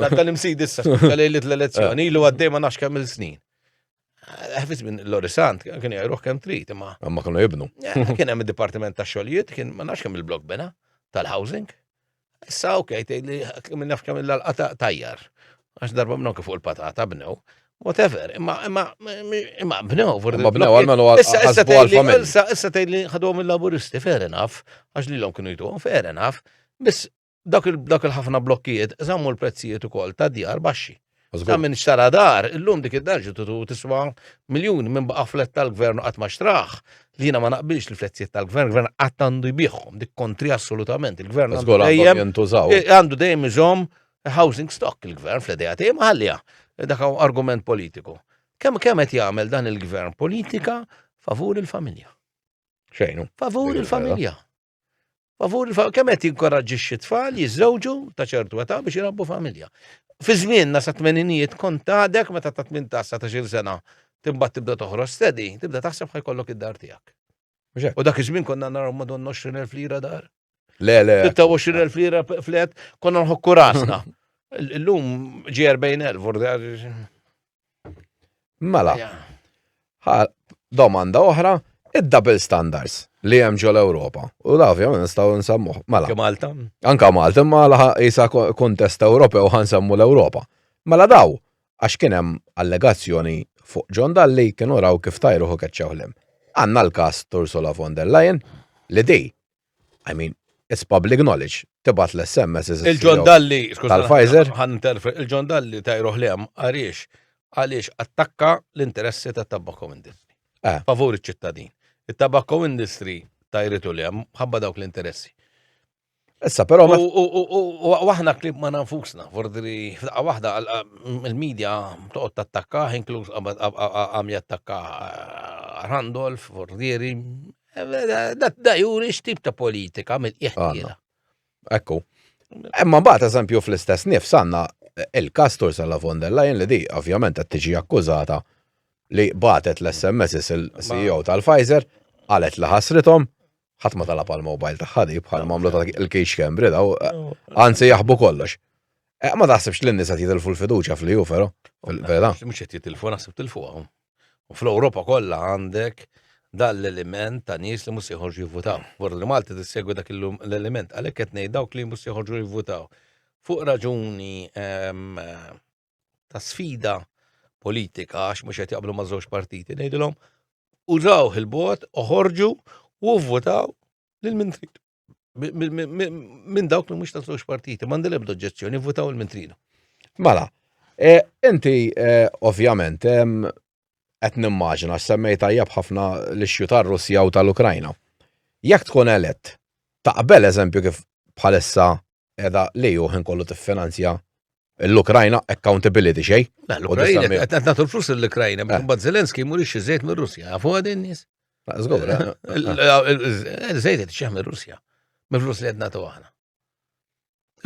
Dak tal-imsid issa, tal-lejlit l-elezzjoni, ilu għaddej ma nafx kemm il-snin. Ħafis minn l-Orisant, kien jgħajruħ kem trit, imma. Imma kienu jibnu. Kien hemm il-Dipartiment ta' Xogħlijiet, kien ma nafx kemm il-blok bena tal-housing. Issa, ok, li minn nafx kemm il-lalqa tajjar. Għax darba bnew kif fuq il-patata bnew. Whatever, imma imma imma bnew for Imma bnew għal menu għasbu għal familja. Issa issa tgħidli ħadhom il-laburisti, fair enough, għax li l-om kienu jtuhom, fair enough, biss dak il-ħafna blokkijiet żammu l-prezzijiet ukoll ta' djar baxxi. Ta' minn xtara dar, illum dik id-dar ġitu tiswa miljun minn baqa' flet tal-gvern qatt ma xtraħ. Li jiena ma naqbilx li fletzijiet tal-gvern, gvern qatt għandu jbieħhom, dik kontri assolutament. Il-gvern għandu dejjem eh, għandu dejjem iżomm housing stock il-gvern fl-idea tiegħi ma ħallija. Dak argument politiku. Kemm kemm qed jagħmel dan il-gvern politika favur il-familja. Xejnu. Favur il-familja. Favur kemm qed jinkoraġġixxi tfal jiżżewġu ta' ċertu età biex jirabbu familja. Fi żmienna sa tmeninijiet kont għadek meta ta' 18 sa ta' xil sena timbagħad tibda toħroġ stedi, tibda taħseb ħajkollok id-dar tiegħek. U dak iż-żmien konna naraw madonna 20,000 lira dar. Le, le. 26,000 lira flet konna nħokku rasna. Illum ġi 40,000 vurda. Mela, domanda oħra, id-double standards li hemm ġol Ewropa. U da ovvjament nistgħu nsemmuh. Mela. Anka Malta. Anka Malta, imma laħa isa kontest Ewropew ħansemmu l-Ewropa. Mela daw, għax kien hemm allegazzjoni fuq John Dalli kienu raw kif tajruħu keċċewħlem. Għanna l-kas Tursula von der Leyen li di I mean, it's public knowledge. Tibat l-SMS iżda. Il-John Dalli, tal-Pfizer. Il-John Dalli tajruħ li hemm għaliex għaliex attakka l-interessi ta' tabakko industry. Eh. Favur iċ-ċittadin. Il-tabakko industry tajritu li hemm ħabba dawk l-interessi. Issa, pero. U aħna klib ma nafusna, fordri, f'daqqa wahda, il-medja toqgħod tattakka, inkluż għam jattakka eh, Randolph, fordieri, Da juri x'tip ta' politika mill-qieħ Ekku. Imma mbagħad eżempju fl-istess nifs għandna il-kastur sa la von der Leyen li di ovvjament qed tiġi akkużata li batet l-SMS il-CEO tal-Pfizer qalet li ħasrithom ħadd ma talab għal-mobile tagħha di bħal mamlu ta' il-kix kembri daw anzi jaħbu kollox. Eh, ma taħsibx li n-nisa jitilfu l-fiduċa fl-ju, vero? Vera. Mux jett jitilfu, naħseb tilfu għahum. U fl-Ewropa kollha għandek dan l-element ta' nies li mhux joħorġu jivvutaw. Vorru li Malta tissegwi dak l-element, għalhekk qed ngħid dawk li mhux joħorġu jivvutaw. Fuq raġuni ehm, ta' sfida politika għax mhux qed jaqblu ma' żewġ partiti, ngħidilhom użaw il-bot, oħorġu u vvutaw lil min trid. minn dawk li mhux ta' żewġ partiti, m'għandi l-ebda oġġezzjoni, votaw il mintrina Mela, e, inti e, ovvjament qed nimmaġina semmej tajjeb ħafna l-ixju tar-Russja u tal-Ukrajna. Jekk tkun elett, taqbel eżempju kif bħalissa qiegħda li hu ħin kollu tiffinanzja l-Ukrajna accountability xej. L-Ukrajna qed nagħtu l-flus l-Ukrajna, eh. mbagħad Zelensky mhurix iżejt mir-Russja, għafu għad in-nies. Żgur. Eh. Eh, żejt qed xeħ mir-Russja, mill-flus li qed nagħtu aħna.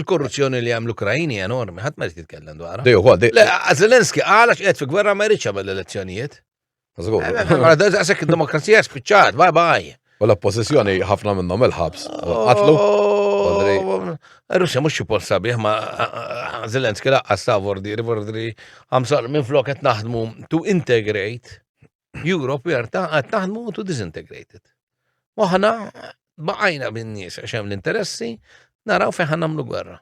Il-korruzzjoni li għam l-Ukrajni enormi, ħadd ma jitkellem dwarha. Dejju, Le, Zelensky għalax qed fi gwerra ma jridx għamel l-elezzjonijiet. Żgur. Mela, da- Daqshekk id-demokrazija spiċċat, bye bye. U l-oppożizzjoni ħafna minnhom il-ħabs. Qatlu. Badri. Russja mhux xi post sabiħ ma Zelensky laqqas ta' vordiri vordiri għamsar minn flok qed naħdmu to integrate Europe we are ta' qed naħdmu to disintegrate it. Waħna baqajna bin-nies għax hemm l-interessi naraw fejn ħan nagħmlu gwerra.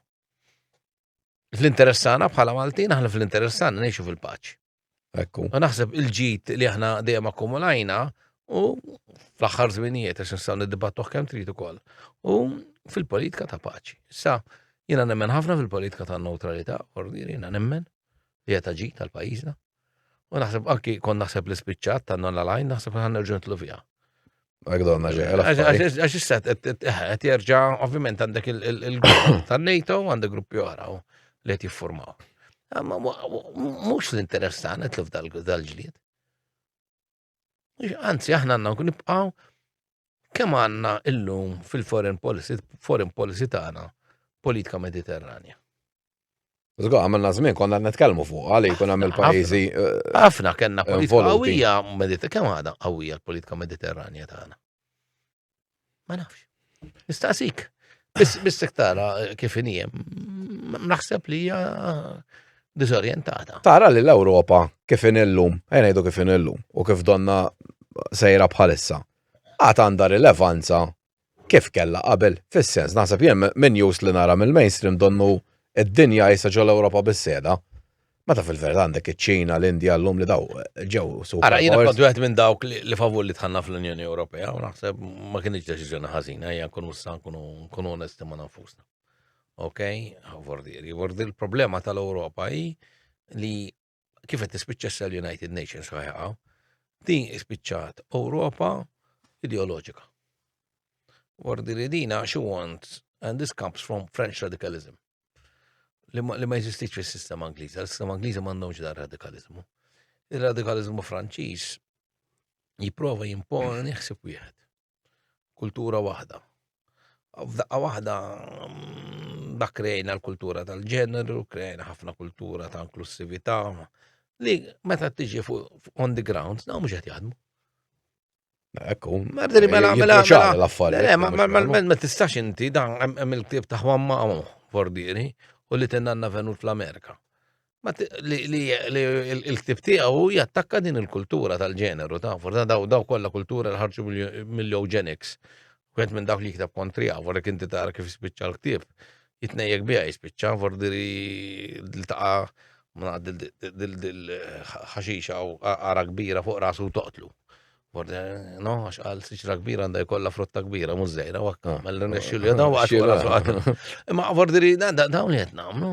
fl-interessana bħala Maltin, aħna fl-interessana ngħixu fil-paċi. Ekku. U naħseb il-ġid li aħna dejjem akkumulajna u fl-aħħar żminijiet għax nistgħu niddibattuh kemm trid ukoll. U fil-politika ta' paċi. Sa jiena nemmen ħafna fil-politika ta' neutralità, ordiri jiena nemmen li qed ġid tal-pajjiżna. U naħseb anki kon naħseb li spiċċat ta' non l-għalajn, naħseb li ħanerġu nitlu fija. Għagdonna ġeħel. Għax issat, għet jerġa, ovvijament għandek il-grupp ta' NATO, għandek gruppi oħra li għet jiffurmaw. Mux l-interessana tluf dal-ġlied. Anzi, aħna għanna nibqaw kemm għanna illum fil-foreign policy, foreign policy tagħna politika mediterranja. Zgo, għamilna zmin, konna netkelmu fuq, għalli kun għamil pajizi. Eh, ħafna kena politika għawija, kemm għada għawija l-politika mediterranja tagħna. Ma nafx. Nistaqsik. Biss tara eh, kif injem. Naħseb li hija eh, disorientata. Tara li l-Ewropa kif inillum, għenajdu kif inillum, u kif donna sejra bħalissa, għat għanda rilevanza kif kella qabel, fis-sens, naħseb jem minn jus li nara mill-mainstream donnu id-dinja jisa ġol-Ewropa bis-seda. Meta fil-verità għandek iċ-Ċina, l-Indja, l-lum li daw ġew su. Ara, jiena kont wieħed minn dawk li favur li tħanna fl-Unjoni Ewropea u naħseb ma kienx deċiżjoni ħażina, hija nkunu sa nkunu onesti ma' nafusna. Ok? Vordir, vordir il-problema tal-Ewropa hi li kif qed tispiċċa sal United Nations ħajqa, din ispiċċat Ewropa ideoloġika. Vordir dina she wants and this comes from French radicalism. li ma jeżistix fis-sistema Ingliża. L-sistema Ingliża m'għandhomx dar radikalizmu. Ir-radikalizmu Franċiż jipprova jimponi ħsib wieħed. Kultura waħda. F'daqqa waħda mm, dak krejna l-kultura tal-ġeneru, krejna ħafna kultura ta' inklusività, li meta tiġi fuq on the ground, dawn mhux qed jaħdmu. Ekku. Mardini, mela, eh, mela, mela. l-affarijiet. Eh, eh, mela, ma tistax inti, dan hemm il-ktib ta' Juan Mamo, Fordieri, u li tennanna venut fl-Amerika. Li il-ktib tiegħu jattakka din il-kultura tal-ġeneru, ta' forza daw daw kollha kultura l-ħarġu mill-eugenics. Wieħed minn dawk li jikteb kontriha, vorrek inti tara kif jispiċċa l-ktieb, jitnejjek biha jispiċċa, vordiri l-taqa dil-ħaxixa u għara kbira fuq rasu toqtlu. No, għax għal siċra kbira għanda jkolla frotta kbira, mużżejra, wakka, ah, mell-nexxu li għadaw għax għasu Imma vordiri, dawn li għetna, no?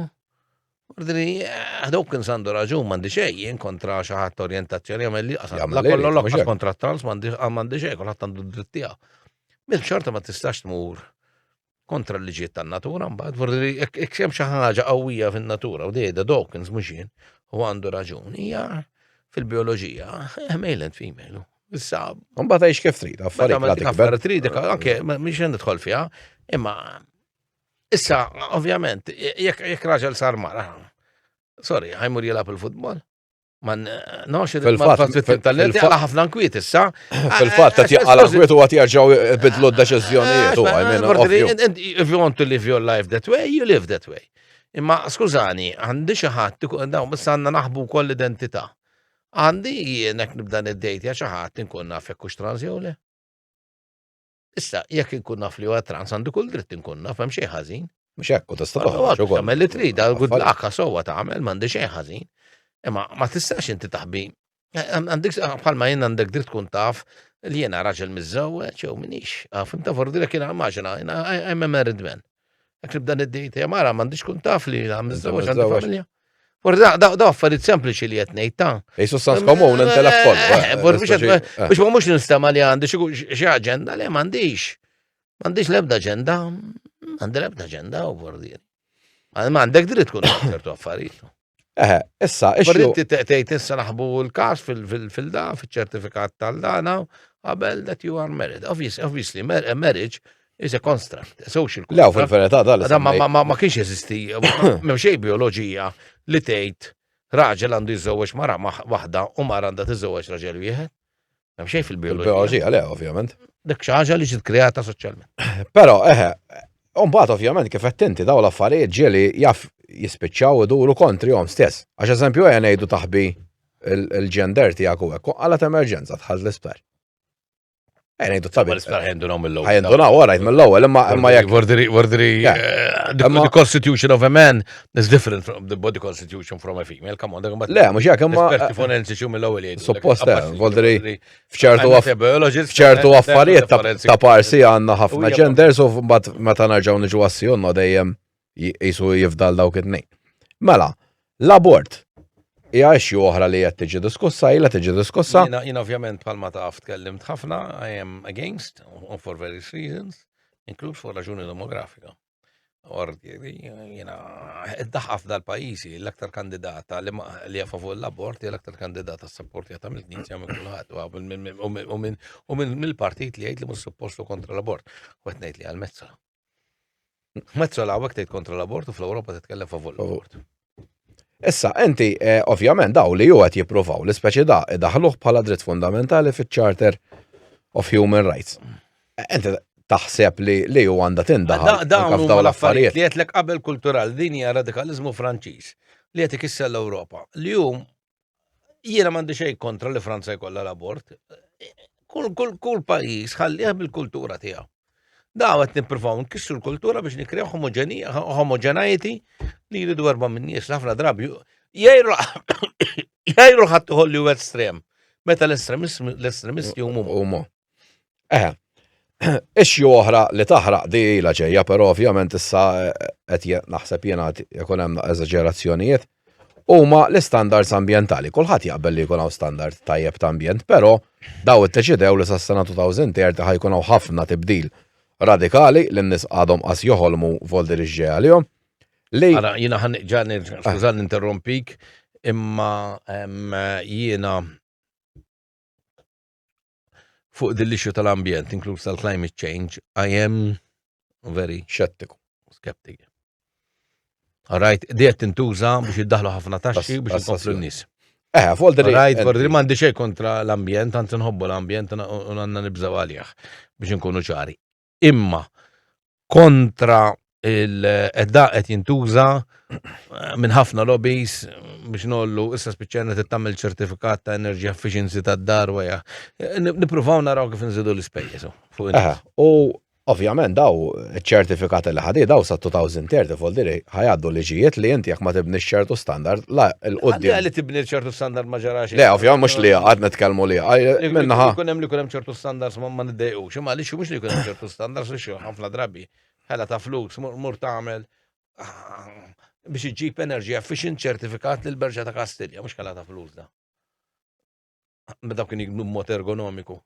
Ordni, eh, Dawkins għandu raġun m'għandi xejn jien kontra xi ħadd orjentazzjoni għamel li qasam. Jagħmel La li kollu jrid, mhux l-oqqas hekk. kontra trans m'għandi ah, m'għandi xejn kulħadd għandu d-dritt tiegħu. Minn xorta ma tistax tmur kontra l-liġijiet tan-natura mbagħad forsi jekk jekk hemm xi ħaġa qawwija fin-natura u dejda Dawkins mhux jien u għandu raġun hija fil-bioloġija eh, male and female. Issa Mbagħad għix kif trid, meta affarijiet ma la dik tikber. affarijiet trid anke ma- mhix qed nidħol fiha, imma Issa, ovvjament, jekk raġel sar mara, sorry, ħajmur jilab il-futbol. Man, no, xie fil-fat, fil-talenti għala ħafna nkwiet issa. Fil-fat, ta' għala nkwiet u għat jarġaw bidlu d-deċizjonijiet u għajmen. If you want to live your life that way, you live that way. Imma, skużani, għandi xaħat, daw, issa għanna naħbu koll identita. Għandi jienek nibda id-dejt ja xaħat nkun nafek kux transjole. Issa, jekk inkun naf li huwa trans għandu kull dritt inkun naf hemm xejn ħażin. Mhux hekk, u tista' toħroġ ukoll. Tagħmel li trid, għal good luck sewwa tagħmel m'għandi xejn ħażin. Imma ma tistax inti taħbi. Għandek bħalma jien għandek dritt tkun taf li jiena raġel miżżewweġ jew minix. Fim ta' fordilek jiena immaġina, jiena I'm a married man. Jekk nibda niddejt hemm ara m'għandix kun taf li nagħmel żewġ għandi familja. Forza, da, da, affarijiet sempliċi li qed ngħid ta'. Ejsu sans komun intelek kollu. Eh, eh, eh, biex ma mhux nistema li għandi xi aġenda li m'għandix. M'għandix l-ebda aġenda, għandi l-ebda aġenda u bordieri. Ma għandek dritt tkun ċertu affarijiet. Eħe, issa, ix Inti tgħid issa naħbu l-każ fil-da, fiċ-ċertifikat tal-dana, qabel that you are married. Obviously, marriage is a construct, a social construct. Lew, fil-verità, dal Ma kienx eżisti, ma xej bioloġija li tgħid raġel għandu jiżżewweġ mara waħda u mara għandha tiżżewweġ raġel wieħed. Hemm xejn fil-bioloġija. Fil-bioloġija, le, ovvjament. Dik xi ħaġa li ġiet kreata soċjalment. Però, eħe, Umbat, ovvjament, kif qed inti daw l-affarijiet ġieli jaf jispiċċaw iduru kontri jom stess. Għax eżempju għen ngħidu taħbi il-ġender tiegħek u hekk għalat emerġenza tħall l-isper. Għen ngħidu tabi. L-isper ħendunaw mill-ewwel. Ħendunaw, orajt mill-ewwel, imma imma jekk. Vordri, vordri, eh, the constitution of a man It's different from the body constitution from a female, come on, dak mbagħad. Le, mhux hekk imma. Esperti eh, forensiċi u mill-ewwel jgħidu. Suppost hemm, eh, voldri f'ċertu f'ċertu eh, affarijiet ta' parsi għandna ħafna genders u mbagħad meta nerġgħu niġu għassjonno dejjem jisu jifdal dawk it-tnejn. Mela, l-abort hija xi oħra li qed tiġi diskussa, ilha tiġi diskussa. Jien ovvjament bħalma taf tkellimt ħafna, I am against for various reasons, include for raġuni demografika. Orti, jina, id-daħqa f'dal pajjiżi l-aktar kandidata li ma li jafa fuq l-abort hija l-aktar kandidata s-sapportjata mill-knisja minn kulħadd u mill-partit li jgħid li mhux suppostu kontra l-abort. U qed ngħid li għal-mezzola. Mezzola hawnhekk tgħid kontra l-abort u fl-Ewropa titkellem favur l-abort. Issa, enti, eh, ovvjament, daw li ju għet jipruvaw li speċi da idaħluħ bħala dritt fundamentali fit charter of Human Rights. Enti taħseb li li ju għanda tindaħal. Dawn daw l-affarijiet. Li għetlek qabel kultural, din hija radikalizmu franċiż li għet ikissa l-Europa. Li jum jiena m'għandi xejn kontra li Franza jkollha l-abort. Kull kull kull pajjiż ħallih bil-kultura tiegħu. Daw qed nippruvaw nkissru l-kultura biex nikrew homogenija, homogeneity li jridu erba' minn nies li ħafna drabi jgħidu jgħidu ħadd iħolli u estrem. Meta l-estremist l-estremisti huma Huma. Eh, issue oħra li taħraq di la ġejja, però ovvjament issa eh, qed naħseb jiena jkun hemm eżaġerazzjonijiet huma l-istandards ambjentali. Kulħadd jaqbel li jkun hawn standard tajjeb ta' ambjent, però daw iddeċidew li sas-sena 2030 ħajkun hawn ħafna tibdil radikali li n-nies għadhom qas joħolmu voldi li ġej għalihom. Li Ara, jina ħan ġani, skużan interrompik, imma em, jina fuq din l-issue tal-ambjent, inkluż tal-climate change, I am very xettiku, skeptiku. Rajt, diet tintuża biex iddaħlu ħafna taxxi biex jkomplu n-nis. Eh, folder li. Rajt, folder li mandi xej kontra l-ambjent, għant nħobbu l-ambjent u għanna nibżaw għalih biex nkunu ċari. imma kontra il-edda qed jintuża eh, minn ħafna lobbies biex nollu issa spiċċajna tittamil ċertifikat ta' energy efficiency ta' dar weja. Eh, Nipruvaw naraw kif nżidu l-ispejjeż oh, fuq il U ovvjament daw ċertifikat li ħadi daw sa 2030 vol diri ħajaddu liġijiet li inti jekk ma tibni ċertu standard la l-qoddim. Għalli tibni ċertu standard ma ġarax. Le, ovvjament mhux li għad nitkellmu li minnaħa. Kun hemm li kun hemm ċertu standards ma niddejqu. U xi għaliex mhux li jkun hemm ċertu standards li xi ħafna drabi ħela ta' flus mur tagħmel biex iġġib enerġija efficient ċertifikat lil berġa ta' Kastilja, mhux ħela ta' flus da. Meta kien jiknu mod ergonomiku.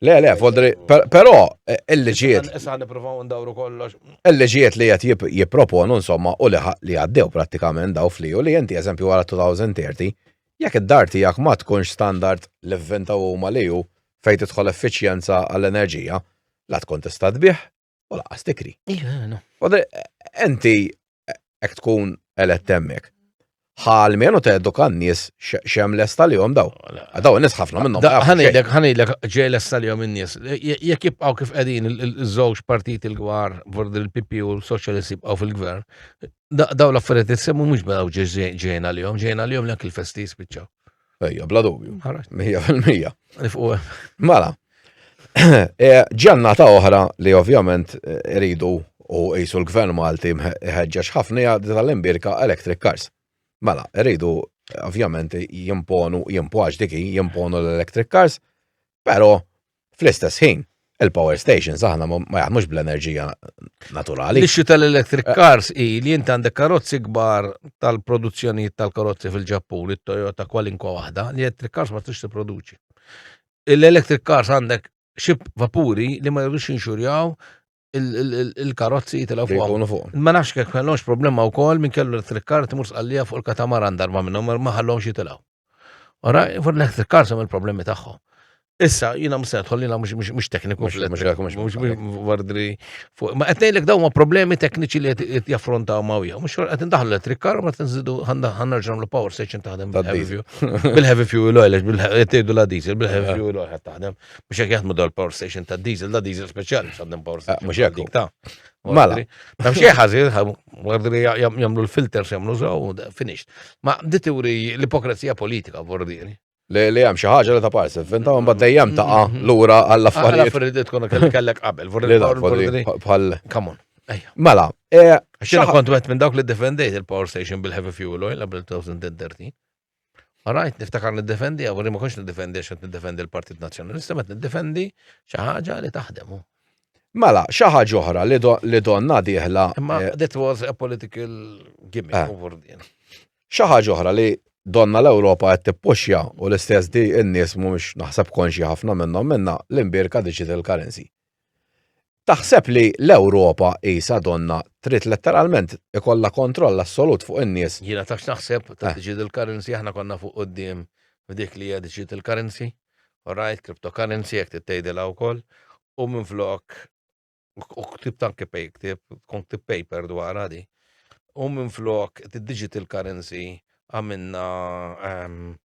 Le, le, fodri, però eh, il-liġiet. Issa niprofaw ndawru kollox. Il-liġiet li jgħat jiproponu, insomma, u li għaddew pratikament daw fli, u li jenti eżempju għara 2030, Jekk id-dar tiegħek ma tkunx standard li vvintaw huma li hu fejn tidħol effiċjenza għall-enerġija, la tkun tista' tbigħ u lanqas tikri. Inti hekk tkun elett hemmhekk. Ħa almenu teduka n-nies x'hemm lest għalihom dawn. Dawn in-nies ħafna minnhom. Ħa ngħidlek x'ġej lest għalihom in-nies. Jekk jibqgħu kif qegħdin iż-żewġ partiti l-kbar, il-PP u l-Soċjalisti jibqgħu fil-gvern, daw l-affarijiet li semmu mhux badaw ġejna li jom, ġejna li jom l il-festi jispiċċaw. Ejja, bla dubju. Mija fil-mija. Mala. Eh, ġanna ta' oħra li ovvjament eh, iridu u jisu l-gvern Malti ħeġġax ħafna jgħad tal-imbirka electric cars. Mela, rridu ovvjament jimponu, jimpoġ diki, jimponu l-electric cars, pero Fl-istess ħin, il-power stations aħna ma jaħdmux bl-enerġija naturali. L-issue tal-electric eh. cars hi li jint għandek karozzi kbar tal-produzzjonijiet tal-karozzi fil-Ġappun, it-Toyota kwalinkwa waħda, li electric cars ma tix tipproduċi. L-electric cars għandek xib vapuri li ma jirrux inxurjaw il-karozzi jitilgħu fuq. Jkunu fuq. Ma nafx kek kellhomx problema wkoll minn kellu electric car timur sqallija fuq il-katamaran darba minnhom ma ħallhomx jitilgħu. Ora, fuq l-electric car sem il-problemi tagħhom. Issa, jina mset, jina mux tekniku. Vardri. Ma għetnejlek daw ma problemi tekniċi li għet jaffrontaw ma u jaw. Mux għet ndaħlu electric car, ma għet nżidu għanna ġamlu power station taħdem bil-heavy fuel. Bil-heavy fuel oil, bil-heavy fuel oil taħdem. Mux jek jaħdmu dal power station ta' diesel, da' diesel speciali, mux għandhom power station. Mux jek ta' Mala. Ma mxie ħazil, għardi li jamlu l-filters jamlu zaw, finished. Ma di teori l-ipokrazija politika, vordiri. Li li hemm xi ħaġa li ta' parsi, finta un bad dejjem ta' mm-hmm. lura għall-affarijiet. Għall-affarijiet tkun kellek qabel, vordiri. Bħal. Come on. Mela, e, xina kont għet minn dawk li defendejt il-power station bil-heavy fuel oil għabel 2013. Rajt niftakar niddefendi, għawri ma konx niddefendi għax niddefendi l-Partit Nazzjonalista, ma niddefendi xi ħaġa li taħdem. Mela, xi ħaġa oħra li donna dieħla. Ma eh, that was a political gimmick eh. over din. Xi ħaġa oħra li donna l-Ewropa qed tippuxja u l-istess di n-nies mhumiex naħseb konxi ħafna minnhom minna l-imbirka digital currency. Taħseb li l-Ewropa qisha donnha trid letteralment ikollha kontroll assolut fuq in-nies? Jiena taf x'naħseb ta' digital currency, aħna konna fuq quddiem f'dik li hija digital currency, alright, cryptocurrency jekk trid tgħidilha wkoll, u minflok, u ktibt anke ktieb, tkun ktibt paper dwarha di, u minflok digital currency għamilna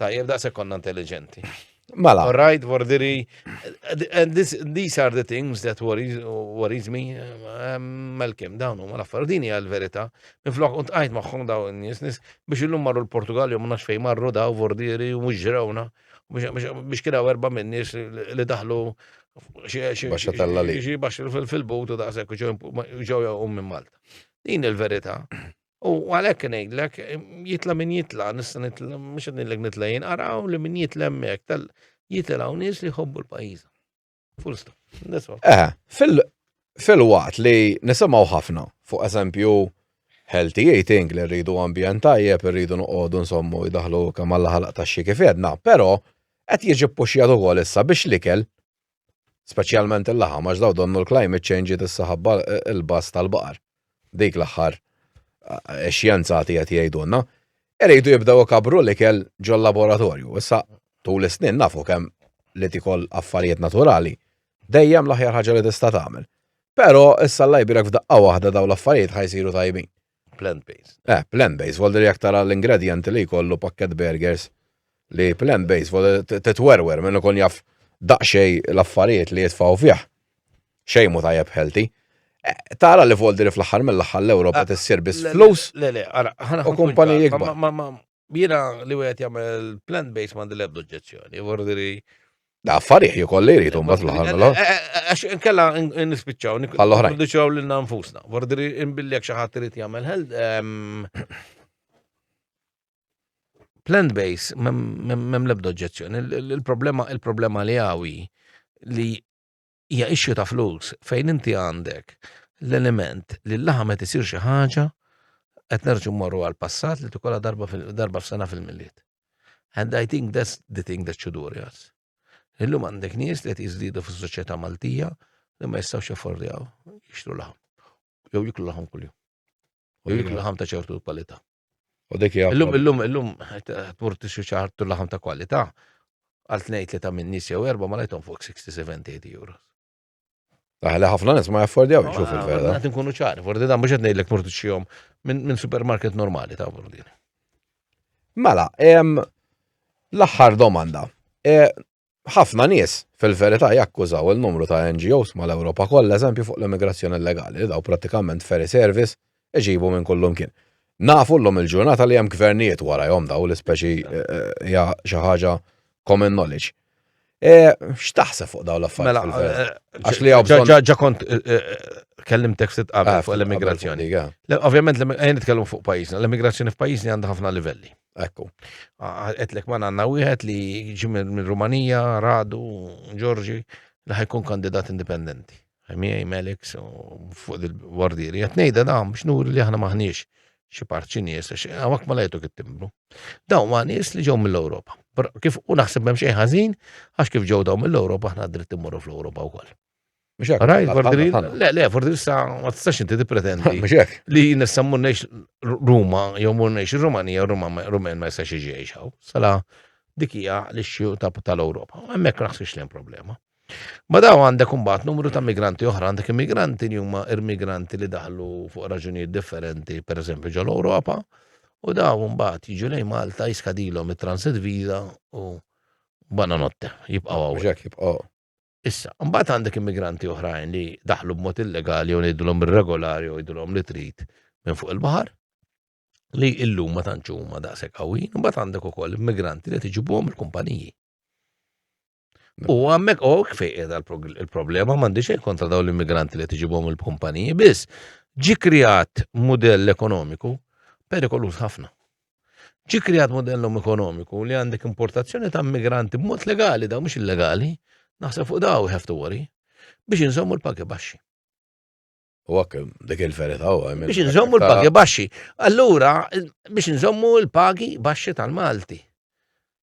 Tajjeb daqshekk konna intelligenti. Mela. All right, Vordiri. And this, these are the things that worries, worries me. Um, Malcolm, dawn huma l-affar. Din hija l-verità. Minflok kont qajt magħhom daw in-nies nies biex illum marru l-Portugal jew nafx fejn marru daw Vordiri u mhux ġrawna. Biex- Biex biex kien hawn erba' minn nies li daħlu xi- xi- Baxxa tella li. xi baxxa fil- fil-but u daqshekk u ġew ġew jaqgħu minn Malta. Din il-verità. U għalhekk ngħidlek, jitla' min jitla', nista' nitla' mhux qed ngħidlek nitla' jien, araw li min jitla' hemmhekk tal jitilgħu nies li jħobbu l-pajjiż. Full stop. Eh, fil-waqt li nisimgħu ħafna fuq eżempju healthy eating li rridu ambjent tajjeb, rridu noqogħdu nsommu jdaħlu kemm għall ħalaq taxxi kif jedna, però qed jiġi ppuxjat ukoll issa biex l-ikel Speċjalment il-laħam għax daw donnu l-climate change ġiet issa ħabba l-bass tal-baqar. Dik l-aħħar eh, xjenzati qed jgħidulna. Iridu jibdew ikabru l-ikel ġol-laboratorju. Issa tul is-snin nafu kemm li tikol affarijiet naturali dejjem l-aħjar ħaġa li tista' tagħmel. Però issa l-lajbirek f'daqqa waħda daw l-affarijiet ħajsiru tajbin. Plant-based. Eh, plant-based, volder jekk tara l-ingredjenti li jkollu pakket burgers li plant-based, volder titwerwer minn ikun jaf daqxej l-affarijiet li jitfaw fih. Xejn mu tajjeb healthy. Eh, tara li volder fl-aħħar mill-aħħar l-Ewropa eh, tissir biss flus. Le, le, ara, u kumpaniji jikbar. Jiena li wieħed jagħmel plant based m'għandi l-ebda oġġezzjoni, vordiri. Da affarijiet jikoll li jridu mbagħad l-aħħar mela. Eh, eh, eh, għax inkella nispiċċaw bħall-oħrajn. Nispiċċaw lil nfusna. Vordiri inbilli jekk xi ħadd irid jagħmel health ehm, plant based m'hemm l-ebda oġġezzjoni. Il-problema il-problema li hawi li hija issue ta' flus fejn inti għandek l-element li l-laħam qed isir xi ħaġa qed nerġu morru għal-passat li tukola darba darba f'sena fil-milliet. And I think that's the thing that should worry us. Illum għandek nies li qed jiżdiedu fis-soċjetà Maltija li ma jistgħux jaffordjaw jixtru laħam. jew jiklu laħam kuljum. U jiklu laħam ta' ċertu kwalità. U dik hija. Illum illum illum tmur tixu ċartu laħam ta' kwalità għal tnejn li ta' minn nies jew erba' ma lajthom fuq 60-70 euros. Għala ħafna nis ma jaffordjaw jxuf il-vera. Għat nkunu ċari, fordi dan biex għednej l-ek murdu xijom minn supermarket normali ta' burdini. Mela, l-axħar domanda. E, Ħafna nies, fil-verità, jakkużaw il-numru ta' NGOs mal-Ewropa kollha eżempju fuq l-immigrazzjoni illegali, li dawn prattikament ferry service iġibu minn kullimkien. Nafu llum il-ġurnata li hemm gvernijiet warajhom dawn l-ispeċi hija xi ħaġa common knowledge. X'taħseb fuq dawn l-affarijiet fil-verità? Għax li hawn bżonn. Ġa kont kellimtek ftit qabel fuq l-immigrazzjoni. Ovvjament, ejja nitkellmu fuq pajjiżna. L-immigrazzjoni f'pajjiżna għandha ħafna livelli. Ekku. Għetlek ma għanna wieħed li ġi minn Rumanija, Radu, Ġorġi, li ħajkun kandidat indipendenti. Ħemija Melek fuq il-wardieri. Għatnejda da biex nuri li aħna maħniex xi parċi nies, għawak ma lajtu kittimbru. Daw ma nies li ġew mill-Ewropa. Kif u naħseb hemm xejn ħażin, għax kif ġew daw mill-Ewropa aħna dritt immorru fl-Ewropa wkoll. Rajt, Fordril, le, le, Fordril sa ma tistax inti tippretendi li nissa murnejx Ruma, jew murnejx Rumanija, Rumen ma jistax iġiex hawn. Sala dikija li xju tal-Ewropa. Hemmhekk naħsibx li hemm problema. Ma daw għandek imbagħad numru ta' migranti oħra, għandek immigranti li huma immigranti li daħlu fuq raġunijiet differenti, pereżempju ġol Ewropa, u daw imbagħad jiġu lejn Malta jiskadilhom it-transit visa u bananotte jibqgħu hawn. Issa, mbagħad għandek immigranti oħrajn li daħlu b'mod illegali u ngħidulhom irregolari u jgħidulhom li trid minn fuq il-baħar li illum ma tantx huma daqshekk qawwin, mbagħad għandek ukoll immigranti li tiġibuhom il-kumpaniji. U għammek u fejqed il-problema m'għandix xejn kontra dawn l-immigranti li tiġibuhom il-kumpaniji, biss ġi kreat mudell ekonomiku perikoluż ħafna. Ġi kreat modellum ekonomiku li għandek importazzjoni ta' migranti b'mod legali daw mhux illegali, naħseb fuq daw have to worry, biex inżommu l-pagi baxxi. U għak, dik il-verita u għamil. Biex nżommu l-pagi baxxi. Allura, biex nżommu l-pagi baxxi tal-Malti.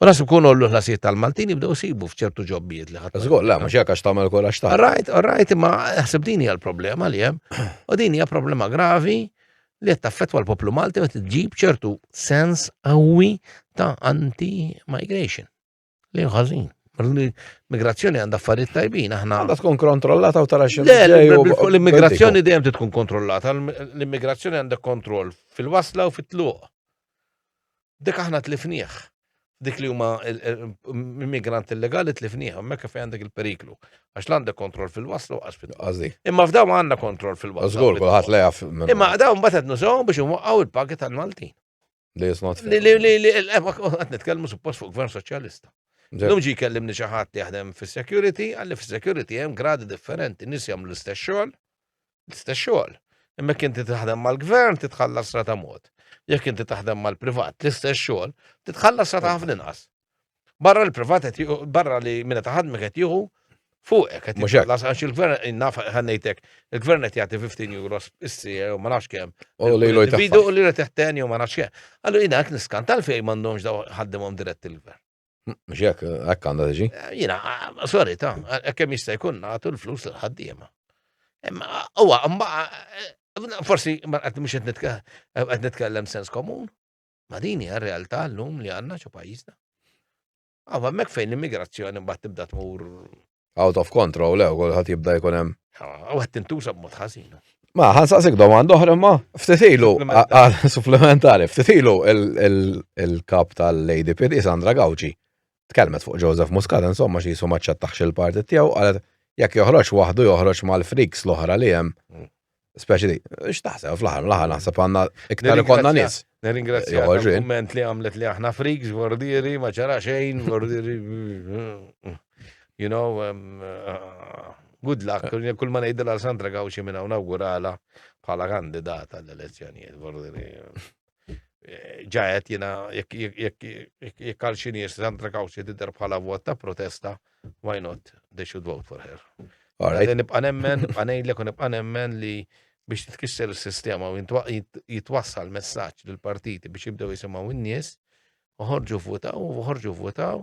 U nasu kun ollu ħlasijiet tal-Maltin jibdew sibu fċertu ġobbijiet li ħadd. Żgur, la, mhux jekk għax tagħmel kol għax ta'. Rajt, rajt, imma ħseb din hija l-problema li hemm. U din hija problema gravi li qed taffettwa l-poplu Malti meta tġib ċertu sens qawwi ta' anti-migration. Li ħażin. L-immigrazzjoni għandha affarijiet tajbin, aħna. Għandha tkun kontrollata u tara xi. L-immigrazzjoni dejjem tkun kontrollata, l-immigrazzjoni għandha kontroll fil-wasla u fit-tluq. Dik aħna tlifnieh. Dik li huma immigranti illegali tlifnieh, hemmhekk fejn għandek il-periklu. Għax l-għandek kontroll fil-waslu għax fil Għażi. Imma f'daw ma għandna kontroll fil-waslu. Żgur, kulħadd la jaf. Imma daw mbagħad qed nużaw biex inwaqqgħu l-pagi tal-Maltin. Li jisnot. Li li li li qed nitkellmu suppost fuq gvern soċjalista. Lum ġi kellimni xi ħadd jaħdem fis-security, għalli fis-security hemm gradi differenti, nies jagħmlu l-istess xogħol, l-istess xogħol. Imma inti taħdem mal-gvern titħallas rata mod. Jekk inti taħdem mal-privat, l-istess xogħol, titħallas rata ħafna inqas. Barra l-privat qed barra li minna taħadmek qed jieħu fuqek qed jitħallas għax il-gvern innaf ħannejtek, il-gvern qed jagħti 15 euro issir u ma nafx kemm. U li loj taħdem. Bidu u li qed teħteni u ma nafx kemm. Allura jiena qed niskanta l-fejn m'għandhomx daw ħaddimhom dirett il-gvern. Mux jek, għak għanda tiġi? Eh, jina, eh, sorry, ta' eh, kem jista' jkun nagħtu l-flus l-ħaddiema. Uwa, mbaqa, forsi ma qed mhux qed nitkellem sens komun. Ma dini hija realtà llum li għandna xi pajjiżna. Għawa mek fejn l-immigrazzjoni mbagħad tibda tmur Out of control, lew, kulħadd jibda jkun hemm. U għed tintuża b'mod ħażin. Ma, ħansaqsik domanda oħra ma, ftitilu, supplementari, ftitilu il-kap tal-ADPD Sandra Gawċi tkellmet fuq Joseph Muscat, insomma, xi jisu maċċettax il-partit tiegħu, għalet jekk joħroġ waħdu joħroġ mal-friks l-oħra li hemm. Mm. Speċi li, x'taħseb fl-aħħar l-aħħar naħseb għandna iktar ikonna nies. Nirringrazzja kumment li għamlet li aħna friks, vordieri, ma ċara xejn, vordieri. You know, um, uh, good luck, eh. kull ma ngħidilha Sandra Gawxi minn hawn nawgurala bħala kandidata l-elezzjonijiet, vordieri. ġajet jina jek għal xini Sandra Kawxi tidher bħala vot ta' protesta, why not they should vote for her. Għadin nibqa nemmen, nibqa nejlek u nibqa nemmen li biex titkisser il-sistema u jitwassal messaċ l-partiti biex jibdew jisimaw in-nies, uħorġu votaw, uħorġu votaw,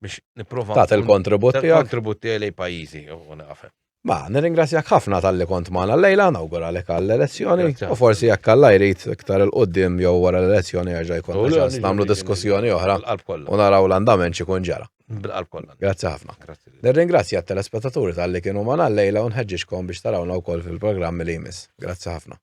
biex niprofa. Tat il-kontribut tiegħek. Il-kontribut tiegħi lej pajjiżi u naqafem. Ma, nirringrazzjak ħafna tal-li kont maħna l-lejla, nawgura li kall elezzjoni u forsi jekk għalla jrid iktar il-qoddim jew wara l-elezzjoni għaxa jkun ċans namlu diskussjoni oħra u naraw l-andament xikun ġara. Grazzi ħafna. Nirringrazzja t-telespettaturi tal-li kienu maħna l-lejla u nħedġiġkom biex tarawna u koll fil-programmi li jmiss. Grazzi ħafna.